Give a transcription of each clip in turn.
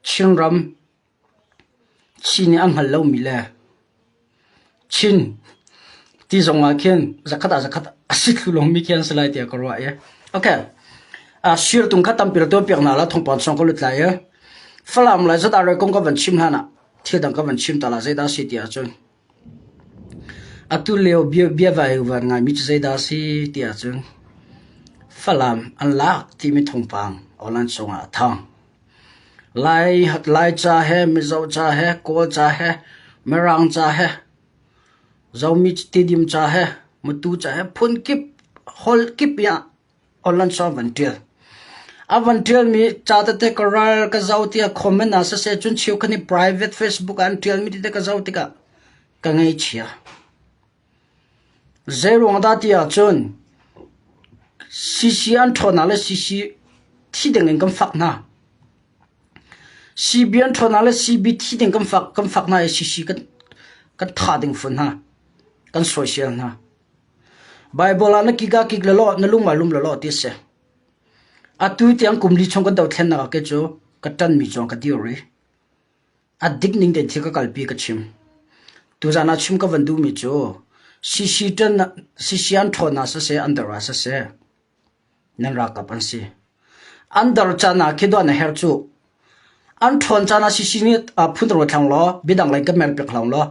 Chinram Chi nih an hngal lomi le Chin ti zongah khin zakhat ah zakhat a sit hlulungmi khi an si lai tiah ka ruah i okay sirtung kha tampi ra tuanpiak hna la thongpang chung ka lut lai i Falam lai zat arre kong ka van chim hlan ah thil dang ka van chim ta la zeidah a si ti ahcun Atu lio biavaivuar ngaimi cu zeidah a si ti ahcun Falam an lak timi thawngpang awlan cungah a thang. Laica he, Mizo ca he, Kawlca he, Mirangca he, Zomi tidim ca he, Matu ca he phun kip, holh kip i ah A van ṭialmi ca tete ka ral ka zoh tiah comment ah siseh cun cheukhat nih private Facebook ah an ṭialmi tete ka zoh tikah ka ngaihchia. Zeiruang dah ti ahcun CC an ṭhawnnak le CC thi ding in kan fak hna. CB an ṭhawnnak le CB thi ding kan fak, kan fak hna i CC kan, kan tha ding fun hna. Kan soisel hna. Baibal ah na kik ah kik lawlaw na lung ah lum lawlaw ti a si. Atu tiang kum li chung kan doh thlennak ah kei cu ka ṭanmi cuang ka dir i a dik ning tein thil ka kalpi ka chim. Tuzan ah chim ka van duhmi cu sisi ṭan sisi an ṭhawn ah siseh an dar ah siseh nan ralkap an si. An dar caan ah khi doh na herh cuh. An ṭhawn caan ah sisi nih phun ro thlang law bidang lei ka mel pek hlang law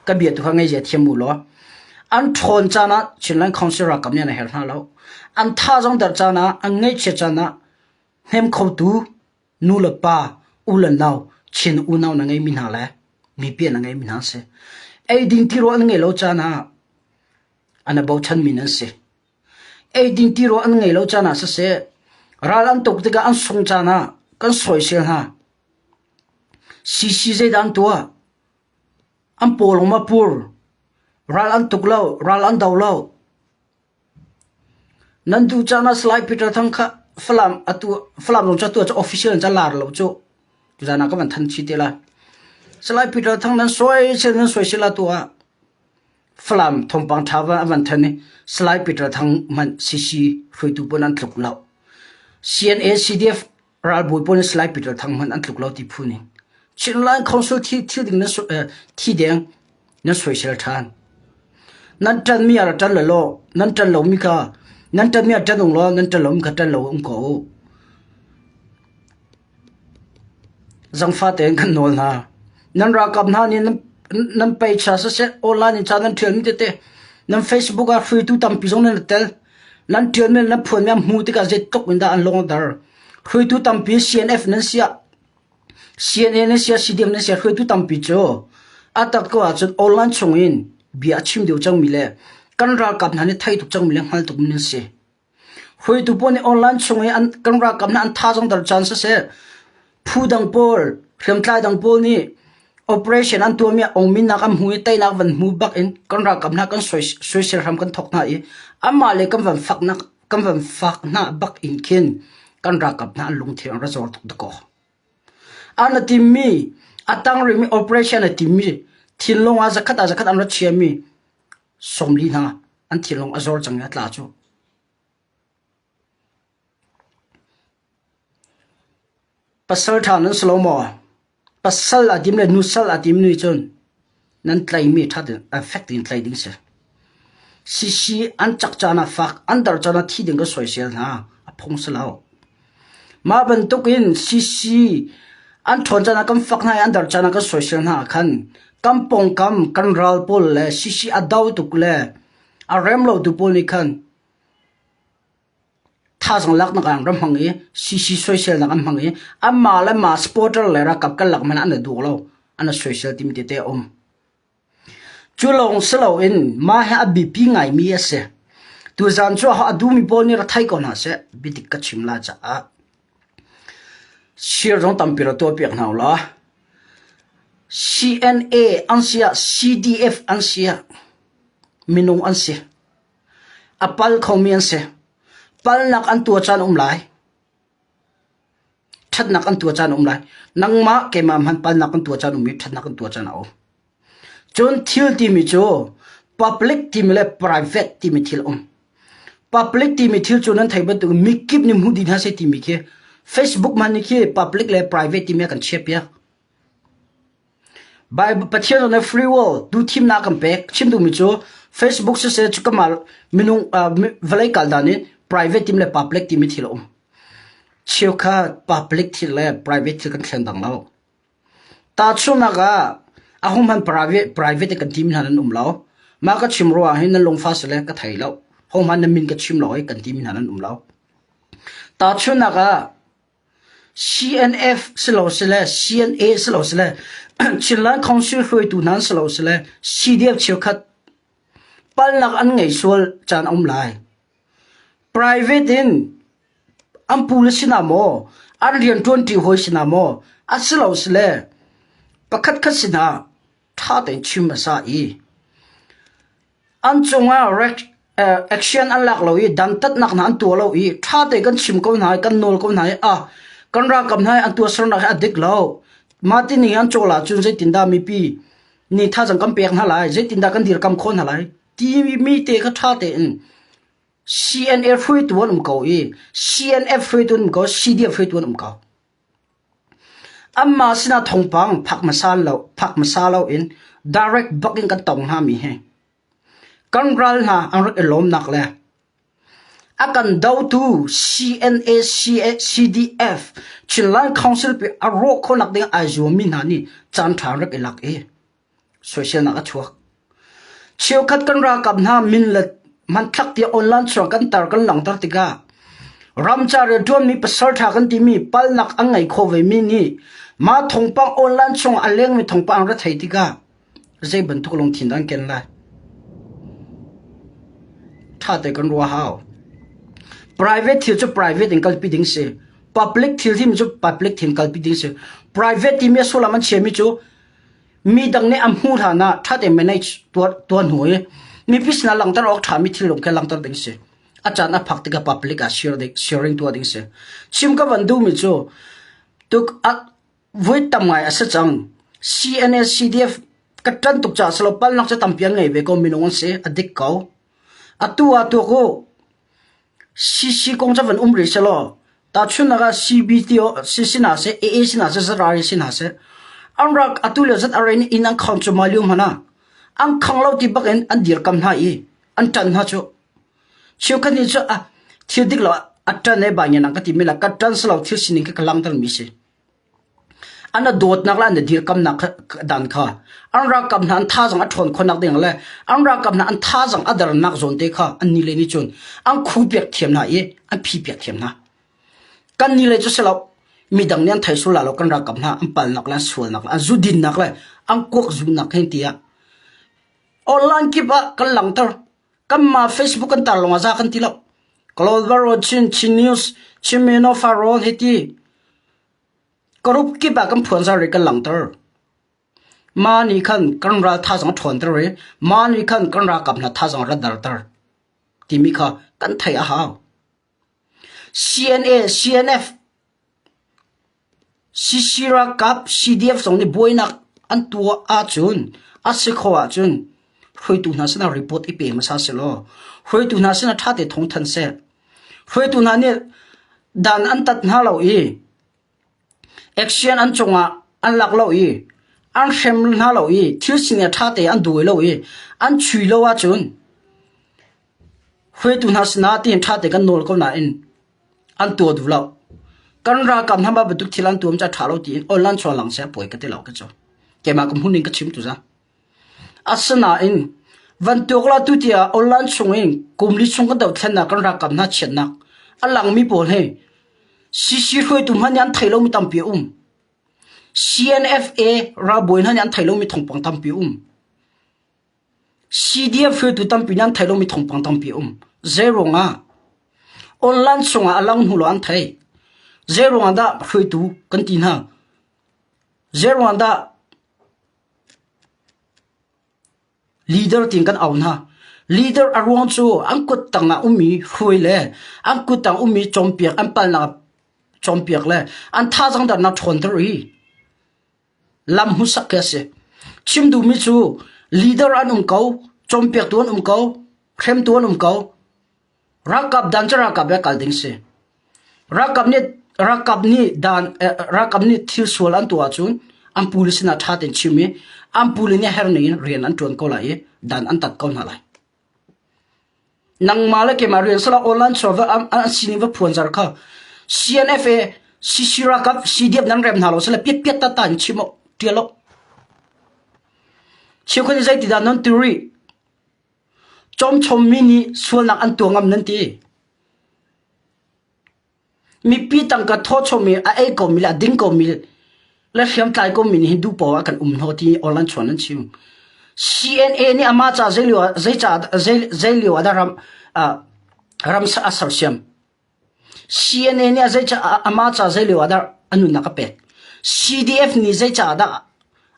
ka bia tu kha ngei zia thiam u law an ṭhawn caan ah Chinland Council ralkap nih an herh hna lo. An tha zong dar caan ah an ngaihchia caan ah hnem khotu nu le pa u le nau Chin unau na ngeimi hna le mipi na ngeimi hna si. Eidin tiro an ngeih lo caan ah ana bochanmi nan si. Eidin tirawl an ngei lo caan ah siseh, ral an tuk tikah an sung caan ah kan sawisel hna. CC zeidah an tuah? An pawlawng ma pur? Ral an tuk lo, ral an do lo. Nan duh caan ah Salai Peter Thang kha Falam atu Falam lung ca tu ca official in ca lar lo cu. Tuzan ah ka van than chi te la. Salai Peter Thang nan soisel nan soisel la tu ah Falam thawngpang ṭha van a van thanh i Salai Peter Thang hmanh CC hruaitu pawn an tluk lo. CNA-CDF ralbawi pawn in Salai Peter Thang hmanh an tluk lo ti phu ning. Chinline Council thi thil ding na thi deng na soisel ṭhan. Nan ṭan mi ara ṭan lo law nan ṭan lo mi ka nan ṭan mi ṭan ung law nan ṭan lo mi ka ṭan lo um ko u. Zangfah tein kan nawl hna. Nan ralkap hna nih nan peicha siseh, online in ca nan ṭialmi tete nan Facebook ah hruaitu tampi zong nan i tel. Nan ṭialmi le nan phuanmi an hmuh tikah zeitluk in dah an lawmter. Hruaitu tampi CNF nan si ah, CNA nan si ah, CDM nan si ah hruaitu tampi cu a tak ko ahcun online chung in bia a chim deuh cangmi le kan ralkap hna nih thei tuk cangmi le hngal tukmi nan si. Hruaitu pawl nih online chung i kan ralkap nih an tha zong ter caan siseh, phu dang pawl, hriamtlai dang pawl nih operation an tuahmi a ongminak an hmu i teinak van hmu bak in kan ralkap hna kan soisel hram kan thawk hna i anmah le kan van fak hna bak in khin kan ralkap hna an lungthin a ra zawr tuk dakaw. An a timmi, a tangrih mi operation a timmi, thinlung ah zakhat ah zakhat an rat chiami sawmli hna an thinlung a zor cang i a tla cuh. Pasal ṭha nan si lo maw? Pasal a tim le nusal a timmi nih cun Nan tleimi ṭhat in fek tein tlei ding si. Sisi an cak caan ah fak an dar caan ah thi ding ka soisel hna. A phung si lo. Mah bantukin sisi an ṭhawn caan ah kan fak hna i an dar caan ah kan soisel hna ah khan kan pawngkam kan ral pawl le sisi a do tuk le a rem lotu pawl nih khan Thazang laknak ah an hmang i sisi soiselnak an hmang i anmah le mah supporter le ralkap karlak hmanh ah an duh lo. An soisel timi tete a um. Cu lawng si loin mah hi a biapi ngaimi a si. Tuzaan cu a duhmi pawl nih ra thei ko hna seh, biadik ka chim la caah. Share zong tampi ra tuahpiak hna ula. CNA an si ah CDF an si ah minung an si. A pal khomi an si. Palnak an tuah caan um lai. Ṭhatnak an tuah caan um lai. Nangmah keimah hmanh palnak kan tuah caan um i ṭhatnak kan tuah caan a um. Cun thil timi cu public timi le private timi thil um. Public timi thil cu nan thei bantuk mikip nih hmuh dih hna sei timi khi Facebook man nih khi public le private timi a kan chiah piak. Baibal Pathian le free world tu thimnak kan pek. Chim duhmi cu Facebook siseh cu keimah minung vawlei kal hna nih private team le public timi thil a um. Cheukhat public thil le private thil kan thleng dang lo. Tahchunhnak ah a hum han private kan team hna nan um lo. Ma ka chim ruah hin nan lungfa sile ka thei lo. Hom han na min ka chim lo i kan team hna nan um lo. Tahchunhnak ah CNF silosile CNA silosile Chinland Council hruaitu hna silosile CDF cheukhat palnak an ngei sual caan a um lai. Private in an pule sina maw an rian ṭuanṭi hawi sina maw a silo sile pakhat khat sinah ṭha tein chim a sa i An cungah action an lak lo i dantatnak hna an tuah lo i ṭha tein kan chim ko hna i kan nawl ko hna i a kan ralkap hna hi an tuahsernak hi a dik lo. Mah ti ning in an cawl ahcun zeitindah mipi nih thazaang kan pek hna lai, zeitindah kan dirkamh khawh hna lai timi te kha ṭha tein CNF hruaitu an um ko i CNF hruaitu an um ko, CDF hruaitu an um ko. Anmah sinah thawngpang phak hmasa loin direct bak in kan tong hngami hi kan ral hna an rak i lawmnak le a kan dotu CNA-CDF Chinland Council pi a rawh khawhnak ding ai zuammi hna nih caanṭha an rak i lak i soiselnak a chuak. Cheukhat kan ralkap hna min le hmanthlak tiah online chuang kan tar kan langhter tikah ramcar i a ṭuanmi pasal ṭha kan timi palnak an ngei kho vemi nih mah thawngpang online chung ah a lengmi thawngpang an ra thei tikah zei bantuk lungthin dah an ken lai? Ṭha te kan ruah hau. Private thil cu private in kalpi ding si. Public thil timi cu public thil kalpi ding si. Private timi a sullam an chiami cu Midang nih an hmuh hlan ah ṭha tein mei tuah hnu i mipi sinah langhter awk ṭhami thil lawng kha langhter ding a si. A caan a phak tikah public ah sharing tuah ding a si. Chim ka van duhmi cu tuk voi tam ngai a si cang. CNS CDF ka ṭan tuk caah silo palnak cu tampi an ngei ve ko minung an si a dik ko. Atu ah tuak u Sii kong cu a van um rih seh law tahchunhnak ah CBT sinah seh, AA sinah seh, Zarari sinah seh, an rak atu le zat a rain inn an khang cuahmah lio hmanh ah an khang lo ti bak in an dirkamh hna i an ṭan hna cuh. Cheukhat nih cu thil dik lo ah a ṭan e bai ngian an ka ti men la, ka ṭan silo thil sining khi ka langhtermi a si. An a dawtnak le an i dirkamnak dan kha an ralkap hna an thazaang a ṭhawn khawhnak ding le an ralkap hna an thazaang a dernak zawn te kha annih le nih cun an khupiak thiam hna i an phipiak thiam hna. Kannih le cu si lo, midang nih an thei sul la lo kan ralkap hna an palnak le an sualnak le an zudinnak le an kuak zunnak hi tiah online kip ah kan langhter. Kanmah Facebook kan tar lawng ah zah kan ti lo. Clover Road, Chin, Chin News, Chin Mino Farrawn hiti. Karup kip ah kan phuan zar i kan langter. Ma nih khan kan ral tha zong ṭhawn ter i ma nih khan kan ral kap hna tha zong rat dar ter timi kha kan thei a hau. CNA, CNF, CC ralkap, CDF zong nih buainak an tuah ahcun a si kho ahcun hruaitu hna sinah report i pe hmasa sehlaw hruaitu hna sinah ṭhate thawng thanh seh. Hruaitu hna nih dan an tat hna lo i Action an cungah an lak lo i an hrem hna lo i thil sining a ṭha tein an duh lo i an chui lo ahcun hruaitu hna sinah tiin ṭha tein kan nawl ko nain an tuah duh lo. Kan ralkap hna mah bantuk thil an tuah cu a ṭha lo tiin online sual lang seh a poi ka ti lo ka cu. Keimah ka hmuh ning ka chim tu za. Asinain van tuaklatu tiah Ollaan chungin kum li chung kan dothlennak kan ralkap hna chiatnak a langmi pawl hi CC hruaitu hna nih an thei lomi tampi a um. CNFA ralbawi hna nih an thei lomi thawngpang tampi a um. CDF hruaitu tampi nih an thei lomi thawngpang tampi a um. Zeiruang ah online chungah a lang hnu lo an thei. Zeiruang ah dah hruaitu kan ti hna? Zeiruang ah dah Leader tiin kan au hna. Leader a ruang cu an kuttang ah ummi hruai le an kuttang ummi cawnpiak, an palnak cawnpiak le an thazaang darnak ṭhawnter i lam hmuhsak khi a si. Chim duhmi cu leader an um ko, cawnpiaktu an um ko, hremtu an um ko. Ralkap dan cu ralkap le kal ding si. Ralkap nih ralkap nih dan eh, ralkap nih thil sual an tuah ahcun an pule sinah ṭha tein chim i an pule nih herning in rian an ṭuan ko lai i dan an tat ko hna lai. Nangmah le keimah rian sala online chaw va an, an sining va phuan zar kha CNFA CC ralkap CDF nan rem hna lo sale piat piat tata in chim tial lo. Chikhun zeitin dah non theory Cawmchawmmi nih sualnak an tuah ngam nan ti. Mipi tangka thawchomi, a ei komi le a ding komi le hriamtlai komi nih hi duhpoah ah kan um hnawh ti online chuan an chim. CNA nih amah ca zeilio zeilio ah ram ram a sersiam. CNA nih amah ca zei lio ah dah a nunnak a pek? CDF nih zei caah dah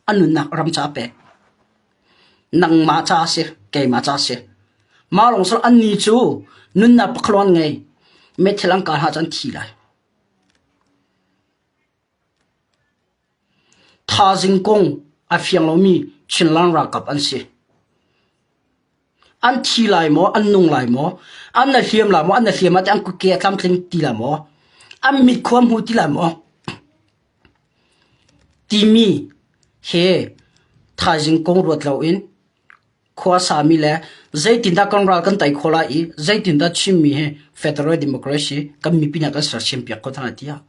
a nunnak ram caah a pek? Nangmah ca a si, keimah ca a si. Mah lawng sal an ni cu nunnak pakhaluan ngei meithal an kal hna cu an thi lai. Thazing kung a fiang lomi Chinland ralkap an si. An thi lai maw, an nung lai maw, an na hliam lai maw, an na hliam ah teh an kuke a tlamtling ti lai maw, an mit khua hmu ti lai maw, timi he thaizing kung ruat loin khuasami le zeitindah kan ral kan tei khawh lai i zeitindah Chinmi hi federal democracy kan mipi nih a kan sersiam piak khawh hna lai tiah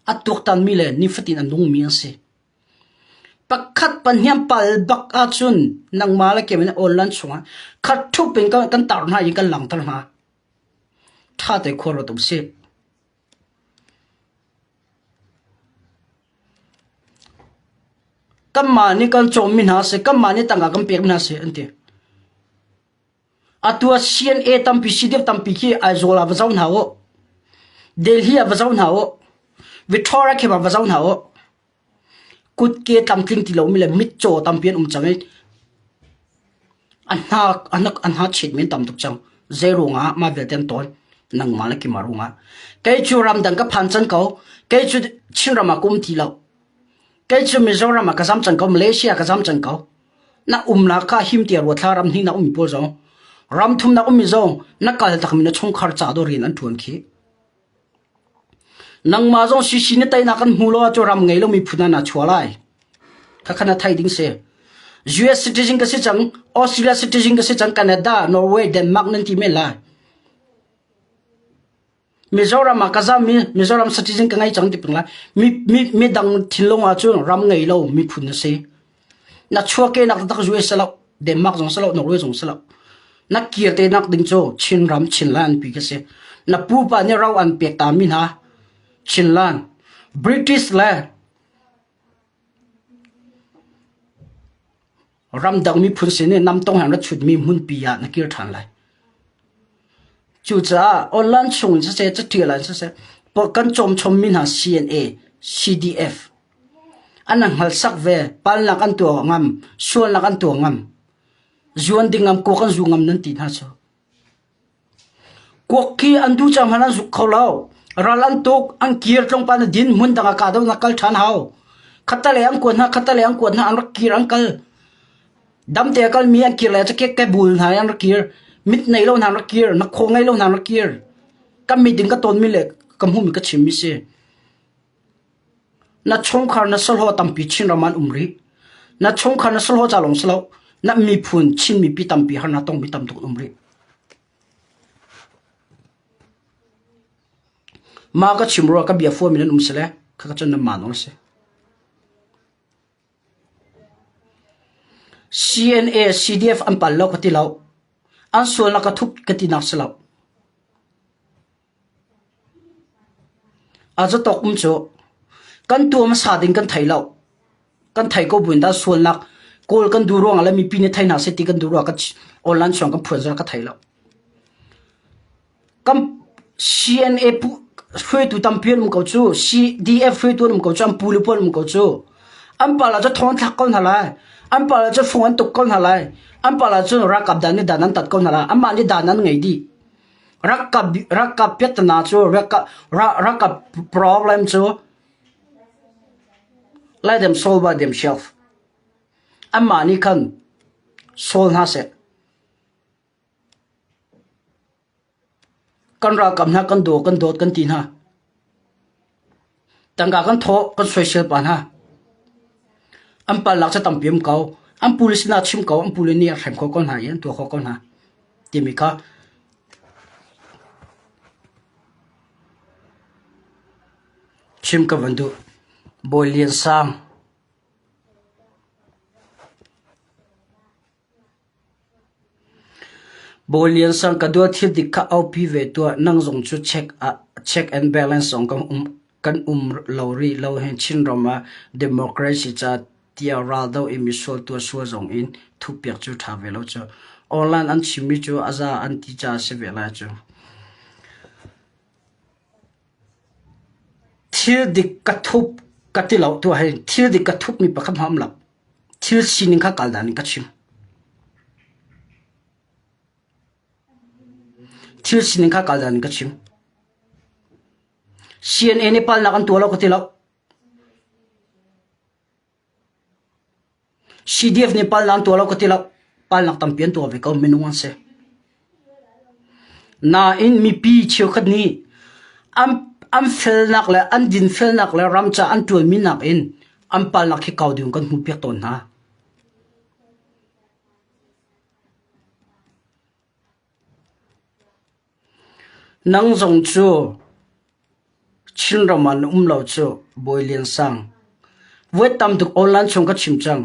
a tuaktanmi le nifatin a nungmi an si. Pakhat pahniam pal bak ahcun nangmah le kemin online chungah khat thup in kan, kan tar hna i kan langter hna. Tha te khuar rawt um sih. Kanmah nih kan cawmmi hna seh, kanmah nih tangka kan pekmi hna seh an ti. Atu ah CNA tampi, CDF tampi khi Aizawl ah va zoh hna u. Delhi ah va zoh hna u. Victoria khem ah va zoh hna u. Kutke tlamtling ti lomi le mitcaw tampi an um cang i an hngakchiat mi an tam tuk cang. Zei ruangah mah vialte an tawi? Nangmah le keimah ruangah. Kei cu ramdang ka phan cang ko. Kei cu Chinram ah ka um ti lo. Kei cu Mizoram ah ka zam cang ko. Malaysia ka zam cang ko. Na umnak ka him ti a ruat hla ram hnih na ummi pawl zong, ram thum na ummi zong na kal takmi na chungkhar ca dawr in an ṭuan khi. Nangmah zong sisi na teinak kan hmu lo ahcun ram ngei lomi phun ah naa chuah lai. Khakha na thei ding si. US citizen ka si cang, Australia citizen ka si cang, Canada, Norway, Denmark nan ti men lai. Mizoram ah ka zammi Mizoram citizen ka ngei cang ti peng lai. Mi, mi, mi dang thinlung ahcun ram ngei lo miphun na si. Na chuahke nak taktak zuai si loh, Denmark zong si loh, Norway zong si loh. Na kir te nak ding cu Chinram Chinland an pi ka si. Na pupa nih ro an pek ta mi hna Chinland, British le ramdang miphun sin i namtong han rat chut mi hmunpi ah na kir than lai. Cucaah online chung in siseh, catial in siseh, kan cawm chom mi hna CNA, CDF, An an hngalsak ve. Pal lak an tuah awk ngam, sual lak an tuah ngam, zuan ding ngam, kuak an zu ngam nan ti hna cu. Kuak khi an duh cang hmanh an zuk kho lo. Ral an tuk, an kir tlongpal na din, hmun dang ah kahdohnak kal ṭhan hau. Khatalei an kuat hna, khatalei an kuat hna, an rak kir, an kal. Damte a kalmi an kir le cu ke bul hna i an rak kir. Mit nei lo hna an rak kir, nakhaw ngei lo hna an rak kir. Kan mit in ka tawnmi le ka hmuhmi ka chimmi si. Na chungkhar na sahlawh tampi Chinram ah an um rih. Na chungkhar na sahlawh ca lawng si lo, na miphun Chin mipi tampi harnak tongmi tam tuk an um rih. Ma ka chim rua ka bia fua min an um si le, kha ka cun nan ma nawl a si. CNA, CDF an pal lo ka ti lo. An sual na ka thup ka ti nak si lo. Catawk um cu kan tuu a hmasa ding kan thei lo. Kan thei ko buin dah sualnak kawl kan duh ruangah le mipi nih thei hna seh ti kan duh ruangah online chuang kan phuan zong ka thei lo. Kan CNA hruaitu tampi an um ko cu, CDF hruaitu an um ko cu, an pu le pu an um ko cu. An pala cu thong an thlak ko hna lai. An pala cu fung an tuk ko hna lai. An pala cu ralkap dan nih dan an tat ko hna lai. Anmah nih dan an ngei dih. Ralkap piattana cu ralkap problem cu laidem solva diam sioh. Anmah nih khan sol hna seh. Kan ralkap hna kan daw, kan dawt kan ti hna. Tangka kan thawh kan soisel pa hna. An palak cu tampi um ko. An pule sinah chim ko. An pule nih a hrem khawh ko hna i an tuah khawh ko hna timi kha chim ka van duh. Bawi Lian Sang. Bawi Lian Sang ka duah thil dik kha aupi ve tuah, nang zong cu check ah check and balance zong kan um lo rih lo hih. Chinram ah democracy ca tiah raldoh in misual tuahsual zong in thuhpiak cu ṭha ve lo cu. Online an chimmi cu a za an ti caah a si ve lai cu. Thil dik ka thup ka ti lo tiah ahhin thil dik ka thup mi pakhat hmanh a um lo. Thil sining kha kal dan in ka chim. Thil sining kha kal dan in ka chim. CNN nih palnak an tuah lo ka ti lo. CDF nih palhnak an tuah lo ka ti lo. Palhnak tampi an tuah ve ko minung an si. Nain mipi cheukhat nih an an felnak le an dinfelnak le ram ca an ṭuanmi nakin an palhnak hi kau ding in kan hmuhpiak tawn hna. Nang zong cu Chinram ah na um lo cuh, Bawi Lian Sang. Vuat tam tuk Awnlan chung ka chim cang.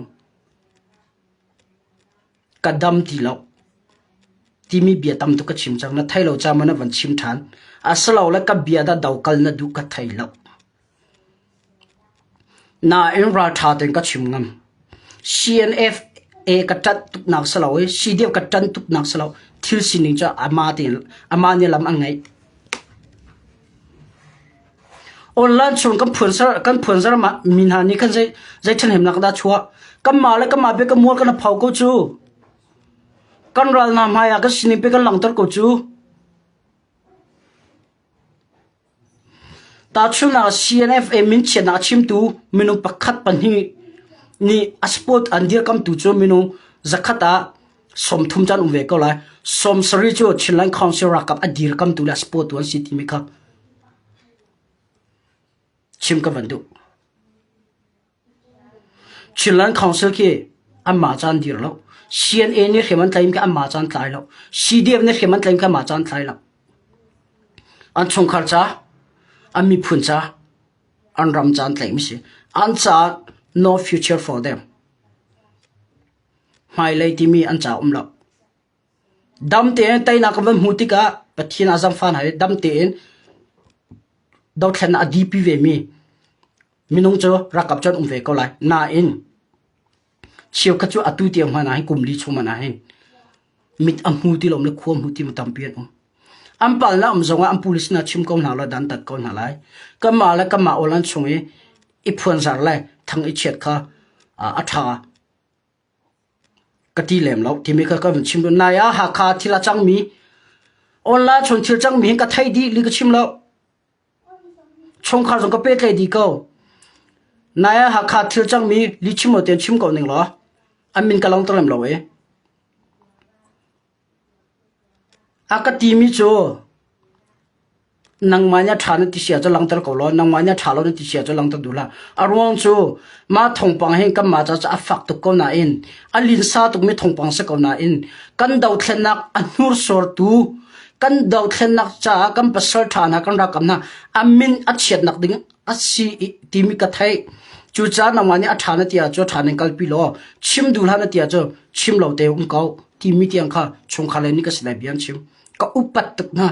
Ka dam ti lo timi bia tam tuk ka chim cang. Na thei lo caah maw na van chim ṭhan? A si lo le ka bia dah dokal na duh ka thei lo. Nain ralṭha tein ka chim ngam. CNFA ka ṭanh tuknak si lo i CDF ka ṭanh tuknak si lo thil sining cu amah tein amah nih lam an ngeih. Online chung kan phuanzar kan phuanzar ma mi hna nih khan zei zei ṭhathnemnak dah chuah kanmah le kanmah bia kan mual kan hau ko cu. Kan ral hna hmai ah kan sining pe kan langhter ko cu. Tahchunhnak ah, CNFM min chiatnak a chimtu minung pakhat pahnih nih a sport an dirkamhtu cu minung zakhat ah sawmthum ca an um ve ko lai. Sawm sarih cu Chinland Council ralkap a dirkamtu le a sport tu an si timi kha chim ka van duh. Chinland Council khi anmah ca an dir lo. CNA nih hrim an tlaim khi anmah ca an tlai lo. CDF nih hrim an tlaim khi anmah ca an tlai lo. An chungkhar ca, an miphun ca, an ram ca an tlaihmi si. An caah no future for them. Hmailei timi an ca um lo. Dam tein teinak kan van hmuh tikah Pathian a zam fa hna i dam tein dothlennak a dipi vemi minung cu rakap cu an um ve ko lai. Nain cheukhat cu atu tiang hmanh ah hin kum li chung hmanh ah hin mit a hmu ti lomi le khua hmu ti mi tampi an um. An palnak um zongah an police nih a chim ko hna lo, dantat ko hna lai. Kanmah le kanmah awl an chung i i phuanzar le thang i chiat kha a ṭha. Ka ti lem lo. Chimica ka vun chim dot nai ah Hakha thil a cangmi, online chung thil cangmi hin ka thei dih li ka chim lo. Chungkhar zong ka pehtlaih dih ko. Nai ah Hakha thil cangmi li chim lo tein chim ko ning law, an min ka lang to lem lo ee. A ka timi cu nangmah nih a ṭha na ti sia cu langhter ko law nangmah nih a ṭha lo na ti sia cu langhter duh hlah. A ruang cu mah thawngpang hin kanmah caah cu a fak tuk ko nain a linsa tukmi thawngpang a si ko nain kan dothlennak a hnursortu kan dothlennak caah kan pasal ṭha hna kan ralkap hna a min a chiatnak ding a si timi ka theih cucaah nangmah nih a ṭha na ti ahcun ṭha nan kalpi law chim duh hlah na ti ahcun chim lo te um ko timi tiang kha chungkhar le nih ka si lai bia an chim ka upat tuk hna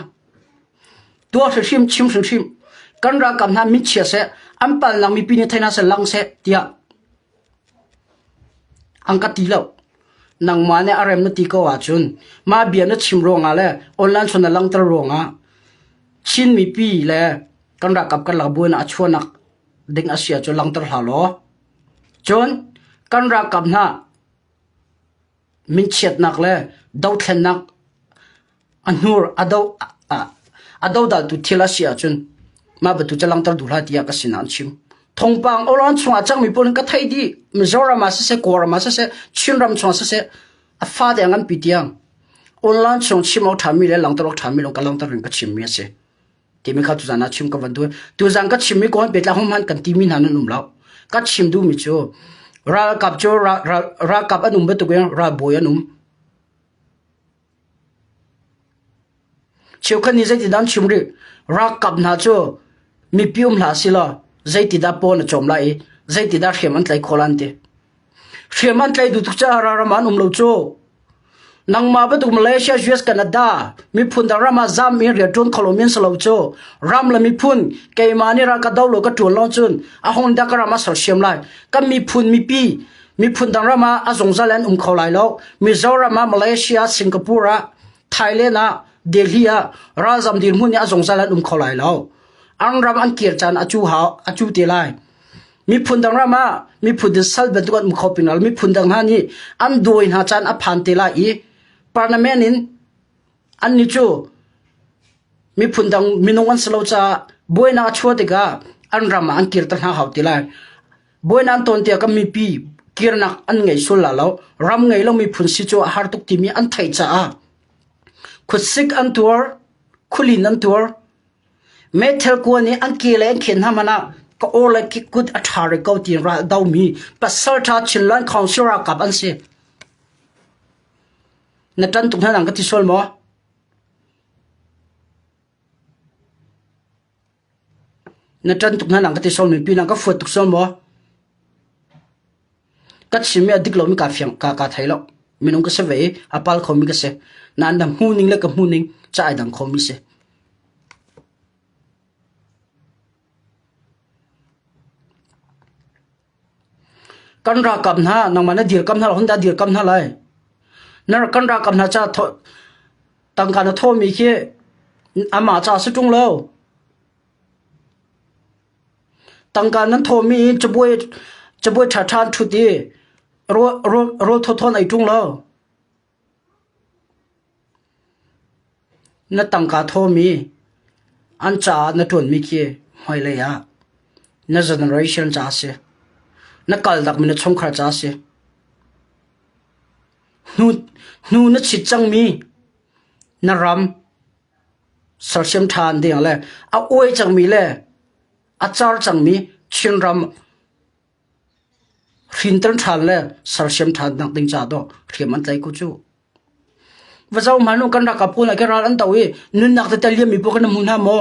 tua hrim chim hrimhrim kan ralkap hna min chia seh an palnak mipi nih theina se lang seh tiah an ka ti lo nangmah nih a rem na ti ko ahcun ma bia na chim ruangah le online chon na langter ruangah chin mipi le kan ralkap kan lakbu in a chuanak ding a si ah cun langter hlah law cun kan ralkap hna minchiatnak le dothlennak a hnur a do a dodaltu thil a si ahcun mah batu ca langter duh hlah tiah ka sinah an chim thongpang oran chungah cangmi pun ka thei di mizoram ah siseh kawram ah siseh chinram chungah siseh a fate ngan pi tiang online chung chim ok thami le langter ok thami long ka langter in ka chim mi a si timi kha tu zan ah chim ka van tu tu zan ka chim mi ko an pe tla hom han kan ti mi hna nan um lo ka chim du mi chu ralkap chu ralkap an um betuk in ralbawi an um cheu khan ni zeiti dan chim ri ralkap hna chu mi pium hla silo zeiti da pon a chom lai zeiti da hriam an tlai kholan te hriam an tlai du tu cha ra raman um lo chu Nangmah bantuk Malaysia US Canada miphun dang ram ah zam in rian ṭuan kho lomi an si lo cu. Ram le miphun keimah nih ral ka do law ka ṭuan lawng cun a hong dah ka ram ah sersiam lai. Kan miphun mipi miphun dang ram ah a zungzal in an um kho lai lo. Mizoram ah Malaysia Singapore ah Thailand ah Delhi ah ralzam dirhmun nih a zungzal in an um kho lai lo. An ram an kir caan a cu hau- a cu te lai. Miphun dang ram ah miphun in sal bantuk an um kho ping lo. Miphun dang hna nih an dawi hna caan a phan te lai i parliament in an ni cu miphun dang minung an si lo caah buainak a chuah tikah an ram ah an kir ta hna hau ti lai. Buainak an ton tiah kan mipi kirnak an ngei sul la lo. Ram ngei lo miphun si cu a har tuk timi an theih caah khutsik an tuar, khulin an tuar, Meithal kua nih an ke le an khen hna hmanh ah ka aw le ki kut a ṭha rih ko ti in raldomi pasalṭha Chinland Council ralkap an si. Na ṭan tuk hna dang ka ti sual maw? Na ṭan tuk hna dang ka ti sual maw? Pinah ka fuat tuk sual maw? Kan sim i a dik lomi kaa fiang, kaa, kaa thei lo. Minung ka si ve i a pal khomi ka si. Nain na hmuhning le ka hmuhning ca ai dang khomi si. Kan ralkap hna, nangmah na dirkam hna, hun dah dirkam hna lai. Na kan ralkap hna ca tangka na thawmi khi amah ca si ṭung lo. Tangka nan thawhmi in cabuai ṭhaṭha an ṭhut i rawl thawthawn ai ṭung lo. Na tangka thawhmi, an caah na ṭuanmi khi hmailei ah na generation caah a si. Na kalnakmi na chungkhar caah a si. Hnu na chit cangmi na ram. sersiam ṭhan ding le a uai cangmi le a car cangmi Chinram hrinter ṭhan le sersiam ṭhan nak ding ca dawh hriam an tlaih ku cu. Va zau hmanung kan rak kapun le ke ral an to i nunnak tete liammi pawl kan hmu hna maw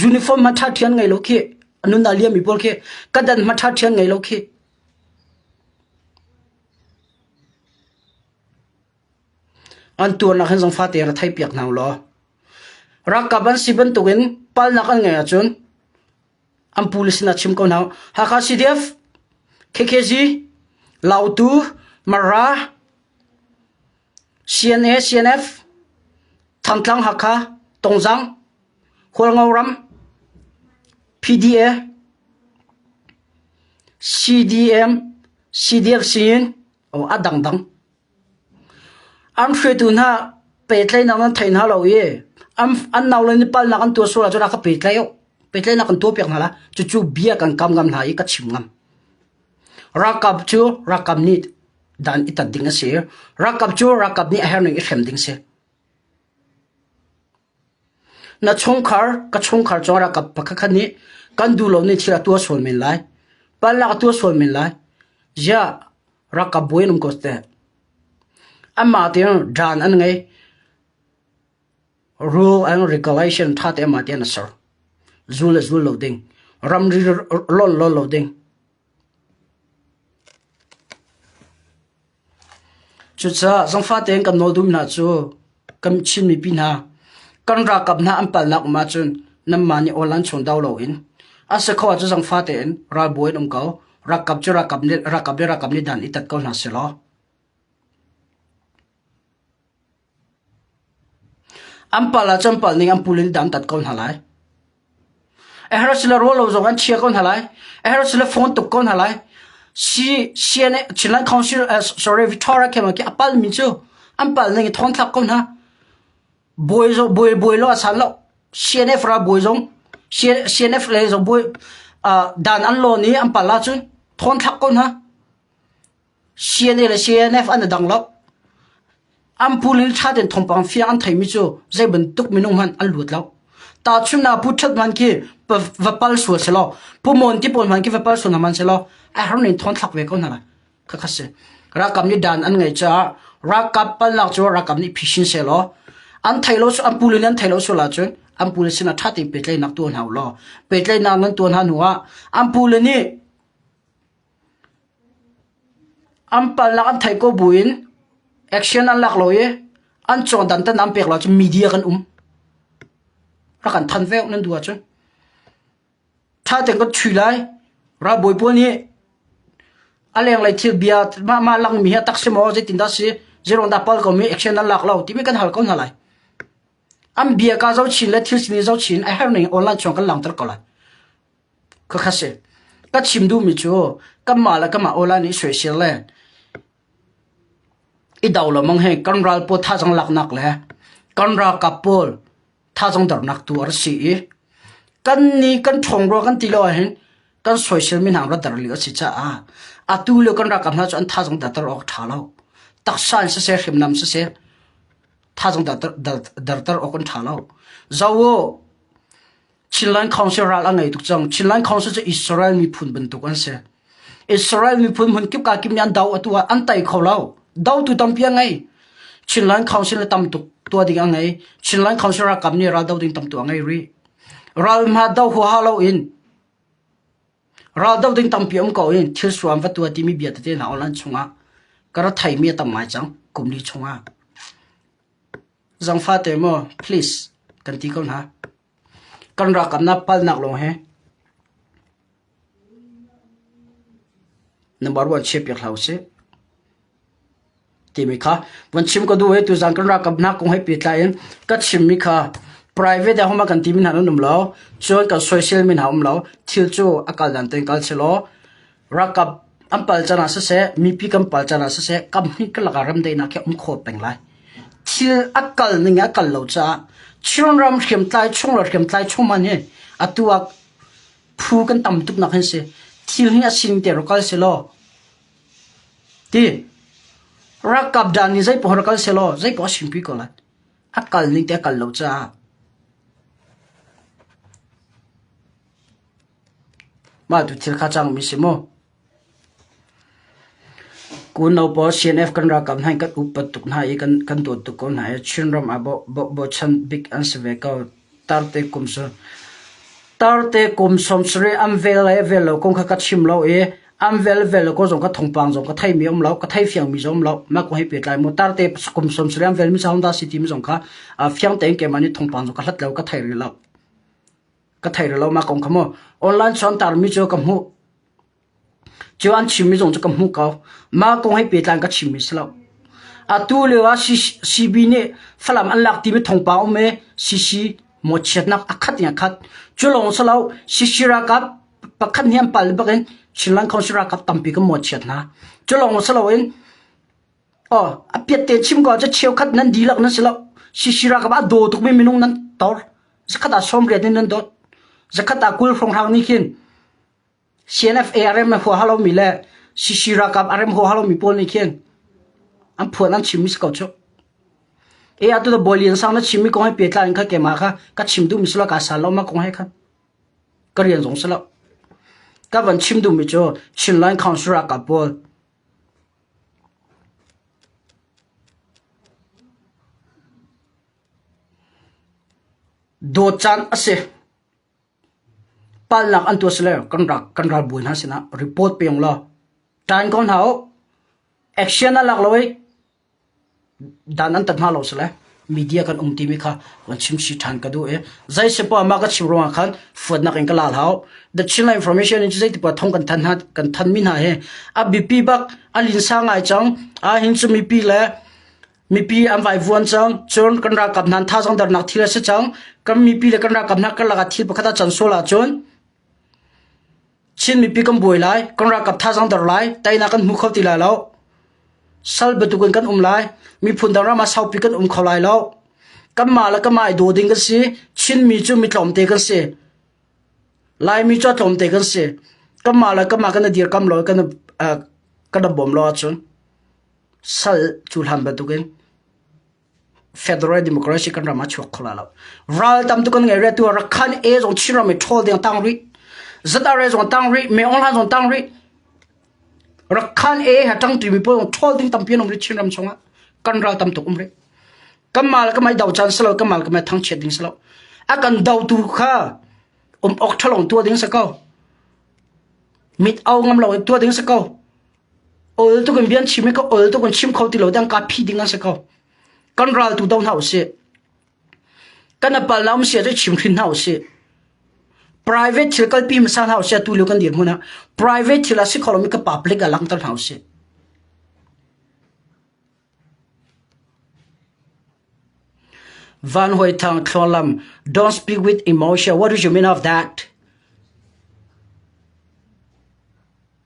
uniform ma ṭhat ṭhian ngai lo khi nunna liammi pawl khi kadan ma ṭhat ṭhian ngai lo khi An tuarnak hin zong fate in ra thei piak hna u law ralkap an si bantukin palnak an ngeih ahcun an pu le sinah chim ko hna u. Hakha CDF, KKG, Lautu, Mara, CNA, CNF, Thantlang, Hakha, Tongzang, Khualngoram, PDA, CDM, CDF siin, a dangdang. An hruaitu hna pehtlaihnak nan thei hna lo i an nau le nih palnak an tuah sual ahcun a ka pehtlaih uh. Pehtlaihnak kan tuah piak hna hlah. Cucu bia kan kam ngam hna i ka chim ngam. Ralkap cu ralkap nih dan i tat ding a si. Ralkap cu ralkap nih a herh ning i hrem ding a si. Na chungkhar, ka chungkhar cung ah ralkap pakhat khat nih kan duh lomi thil a tuah sual men lai. Palak a tuah sual men lai. Ziah ralkap bawi an um ko teh? Amah tiang dan an ngei. Rule and regulation tha te amah tiang an ser. Zul le zul lo ding. Ramri lonh lo lo ding. Cucaah zangfate in kan nawl duhmi hna cu kan Chin mipi hna kan ralkap hna an palnak um ahcun nanmah nih online chung dau loin a si kho ahcun zangfate in ralbawi in um ko. Ralkap cu ralkap nih ralkap le ralkap nih dan i tat ko hna seh law. An palh ahcun palh ning an pul in dam tat ko hna lai. A herh asile ruah lo zong an chia ko hna lai. A herh asile phone tuk ko hna lai. Chinland Council, sorry, Victoria khe a palhmi cu an palh ning i thawngthlak ko hna. Bawi zong, bawi, bawi lo a san lo. CNF ra bawi zong, CNF le zong bawi dan an lawn i an palh ahcun thawngthlak ko hna. Siane le CNF an i dang lo. An pul in ṭha tein thawngpang fiang an theimi cu zeibantuk minung hmanh an luat lo. Tahchunhnak pu ṭhat hmanh khi va pal sual sehlaw, Pu Mawn ti pawl hmanh khi va pal sual hna hmanhsehlaw, a har in thawng thlak ve ko hna lai. Khakha si. Ralkap nih dan an ngeih caah ralkap palnak cu ralkap nih phishin sehlaw, an thei lo an pul in an thei lo sual ahcun an pule sinah ṭha tein pehtlaihnak tuah hna u law, pehtlaihnak nan tuah hna hnuah an pule nih An palhnak an theih ko buin action an lak lo i an cawhdantan an pek lo ahcun media kan um. Rak kan thanh ve uh nan duh ahcun. Ttha tein kan tthui lai. Ralbawi pawl nih a lenglei thil bia mah mah langmi hi a tak si maw zeitindah si zeiruang dah pal komi action an lak lo timi kan hal ko hna lai. An bia kaa zoh chin le thil sin i zoh chin a herning online chung kan langter ko lai. Khakhat si. Ka chim duhmi cu kanmah le kanmah awla nih soisel le i do lo mang hi kan ral pawl thazang laknak le kan ralkap pawl thazang dornak tu a rak si i kan ni kan ṭhawngrual kan ti lo ahhin kan soiselmi hna rat der lio a si caah atu lio kan ralkap hna cu an thazang derter awk a ṭha lo. Taksa in siseh hriamnam siseh thazang derter derter awk an ṭha lo. Zo u, Chinland Council ral a ngei tuk cang. Chinland Council cu Israel miphun bantuk an si. Israel miphun hmun kip ka kim an do atu ah an tai kho lo. Do tu tampi a ngei. Chinland Council le tam tuk tua ding a ngei. Chinland Council ra kam ni ral do ding tam tu a ngei ri. Ral ma do hu ha lo in ral do ding tampi um ko in thil suam va tua ti mi bia te na online chungah kara thai mi tam mai chang kumli chungah zang fa te mo please kan ti ko na Kan ralkapnak palnak lawng hi na buar vuan chia piak hlah usih, timi kha vun chim ka duh i tuzaan kan ralkapnak kong he pehtlai in ka chimmi kha private ah homa kan timi hna nan um lo, cun kan soisel mi hna um lo, thil cu a kal dan tein kal seh law Ralkap an pal can ah siseh, mipi kan pal can ah siseh, kam hnih ka lak ah remdaihnak hi a um kho peng lai. Thil a kal ning a kal lo caah Chin ram hriamtlai chung le hriamtlai chung man hi atu ah phu kan tam tuk nak hin si thil hi a sining te rak kal se law ti ralkap dan ni zei pohor kal se law zei poh a sing pi ko lai a kal ning te a kal lo caah Mah tu thil kha cangmi a si maw? Kunno pawl CNF kan ralkap hna in kan upat tuk hna i kan dawt tuk ko hna i Chinram ah bochan bik an si ve ko. Tarte kum cu tarte kum sawm sarih an vel le a vel lo kong kha ka chim lo i an vel vel lo kong zong ka thawngpang zong ka theimi a um lo, ka theifiangmi zong a um lo. Mah kong hei pehtlai mu. Tarte kum sawm sarih an velmi ca Honda City mi zong kha fiang tein keimah nih thawngpang zong ka hlat lo, ka thei rih lo. ka thei rih lonak kong kha mu online sawm tarmi cu ka hmuh cu an chimmi zong cu ka hmuh ko mah kong he pehtlai ka chimmi si lo atu lio ah CB nih Falam an lak timi thongpang um e CC mo chiatnak a khat ya khat cu lawng sa lo CC rakap pakhat ni an pal bakin Chin Land Council rakap tampi ka mo chiat na cu lawng sa lo in Aw, a piat te chim ko cu cheu khat nan dihlak nan si lo. Sisira ka ba daw tukmi minung nan tor. Zakhat ah sawmriat in nan dawt. Zakhat ah kul hronghang nih khin CNFARM na hua halomi le sisira kap arem hua halomi pawl nih khin an phuan an chimmi si ko cu. E atu da bolian sang na chimmi kong he petla in kha kema kha ka chim duhmi si lo ka sal lo ma kong he khan ka rian zong si lo. Ka van chim duhmi cu Chinland Council ra ka pawl Dawtcaan a si. Palnak an tuah sile kan ralbawi hna sinah report pe ulaw ṭan ko hna u. Action a lak lo hih. Dan an tat hna lo sile media kan um timi kha kan chimsi ṭhan ka duh i zei sipuaa mah ka chim ruangah khan fuatnak in ka la hlah The Chinland Information in zeitipa thong kan than hna kan thanmi hna hi a biapi bak an linsa ngai cang a hin cu mipi le mipi an vaivuan cang cun kan ralkap hnan thazang darnak thil a si cang kan mipi le kan ralkap hna karlak ah thil pakhat a can sual ahcun Chin mipi kan buai lai, kan ralkap thazaang der lai, teinak kan hmu kho ti lai lo. Sal bantuk in kan um lai, miphun dang ram ah saupi kan um kho lai lo. Kanmah le kanmah i daw ding kan si, Chinmi cu mi tlawmte kan si. Laimi cu a tlawmte kan si. Kanmah le kanmah kan i dirkamh law kan i- kan i bawm law ahcun sal cu hlan bantuk in. Federal Democracy kan ram a chuak kho la lo. Ral tam tu kan ngei re tu Rakhan e zong Chinram i ṭhawl deng tang rih. Zatare zong tang rih, Meongla zong tang rih. Rakhan e ha ṭang tu mi po zong ṭhawl ding tampi an um rih Chinram chungah. Kan ral tam tuk um rih. Kamal kamai dau chan selo kamal kamai thang chiat ding selo. Akan dau tu kha um ok ṭhalong tua ding sa ko. Mit au ngam lo tua ding sa ko. Ol tuk in bian chim i ka ol tuk in chim kho ti lo tiang ka phi ding an si kho. Kan ral tu do hna usih. Kan apal na um sia cu chim hrin hna usih. Private thil kalpi masa hna usih tu lio kan dir hmuna. Private thil a si kho lomi ka public a langter hna usih. Van Hoi Thang Thluanlam, don't speak with emotion. What do you mean of that?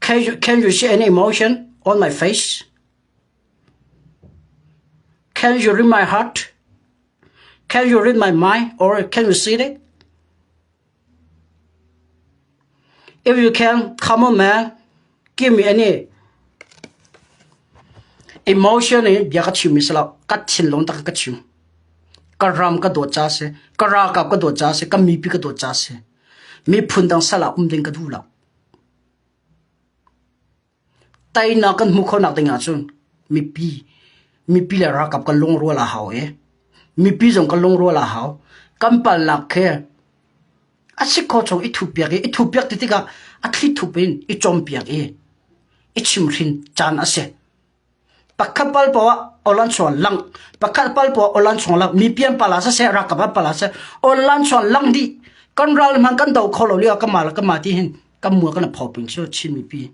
Can you see any emotion on my face? Can you read my heart? Can you read my mind or can you see it? If you can, come on man, give me any emotion in bia ka chim isala ka thinlung tak in ka chim. Ka ram ka dawt ca a si, ka ralkap ka dawt ca a si, ka mipi ka dawt ca a si. Miphun dang sal ah um ding ka duh lo. Tainak kan hmuh khawhnak ding ahcun mipi, mipi le ralkap kan lungrual a hau i mipi zong kan lungrual a hau. Kan palnak khi a si kho chung i thupiak i, i thupiak ti tikah a thli thup in i compiak i, i chimhrin caan a si. Pakhat pal po ah olan chuan lang, pakhat pal po ah olan chuan lang, mi pian pala saseh, rakap ah pala saseh, olan chuan lang di, kan ral man kan do kho lo lio kama la kama ti hin kan mua kan pho ping chu chin mi pi.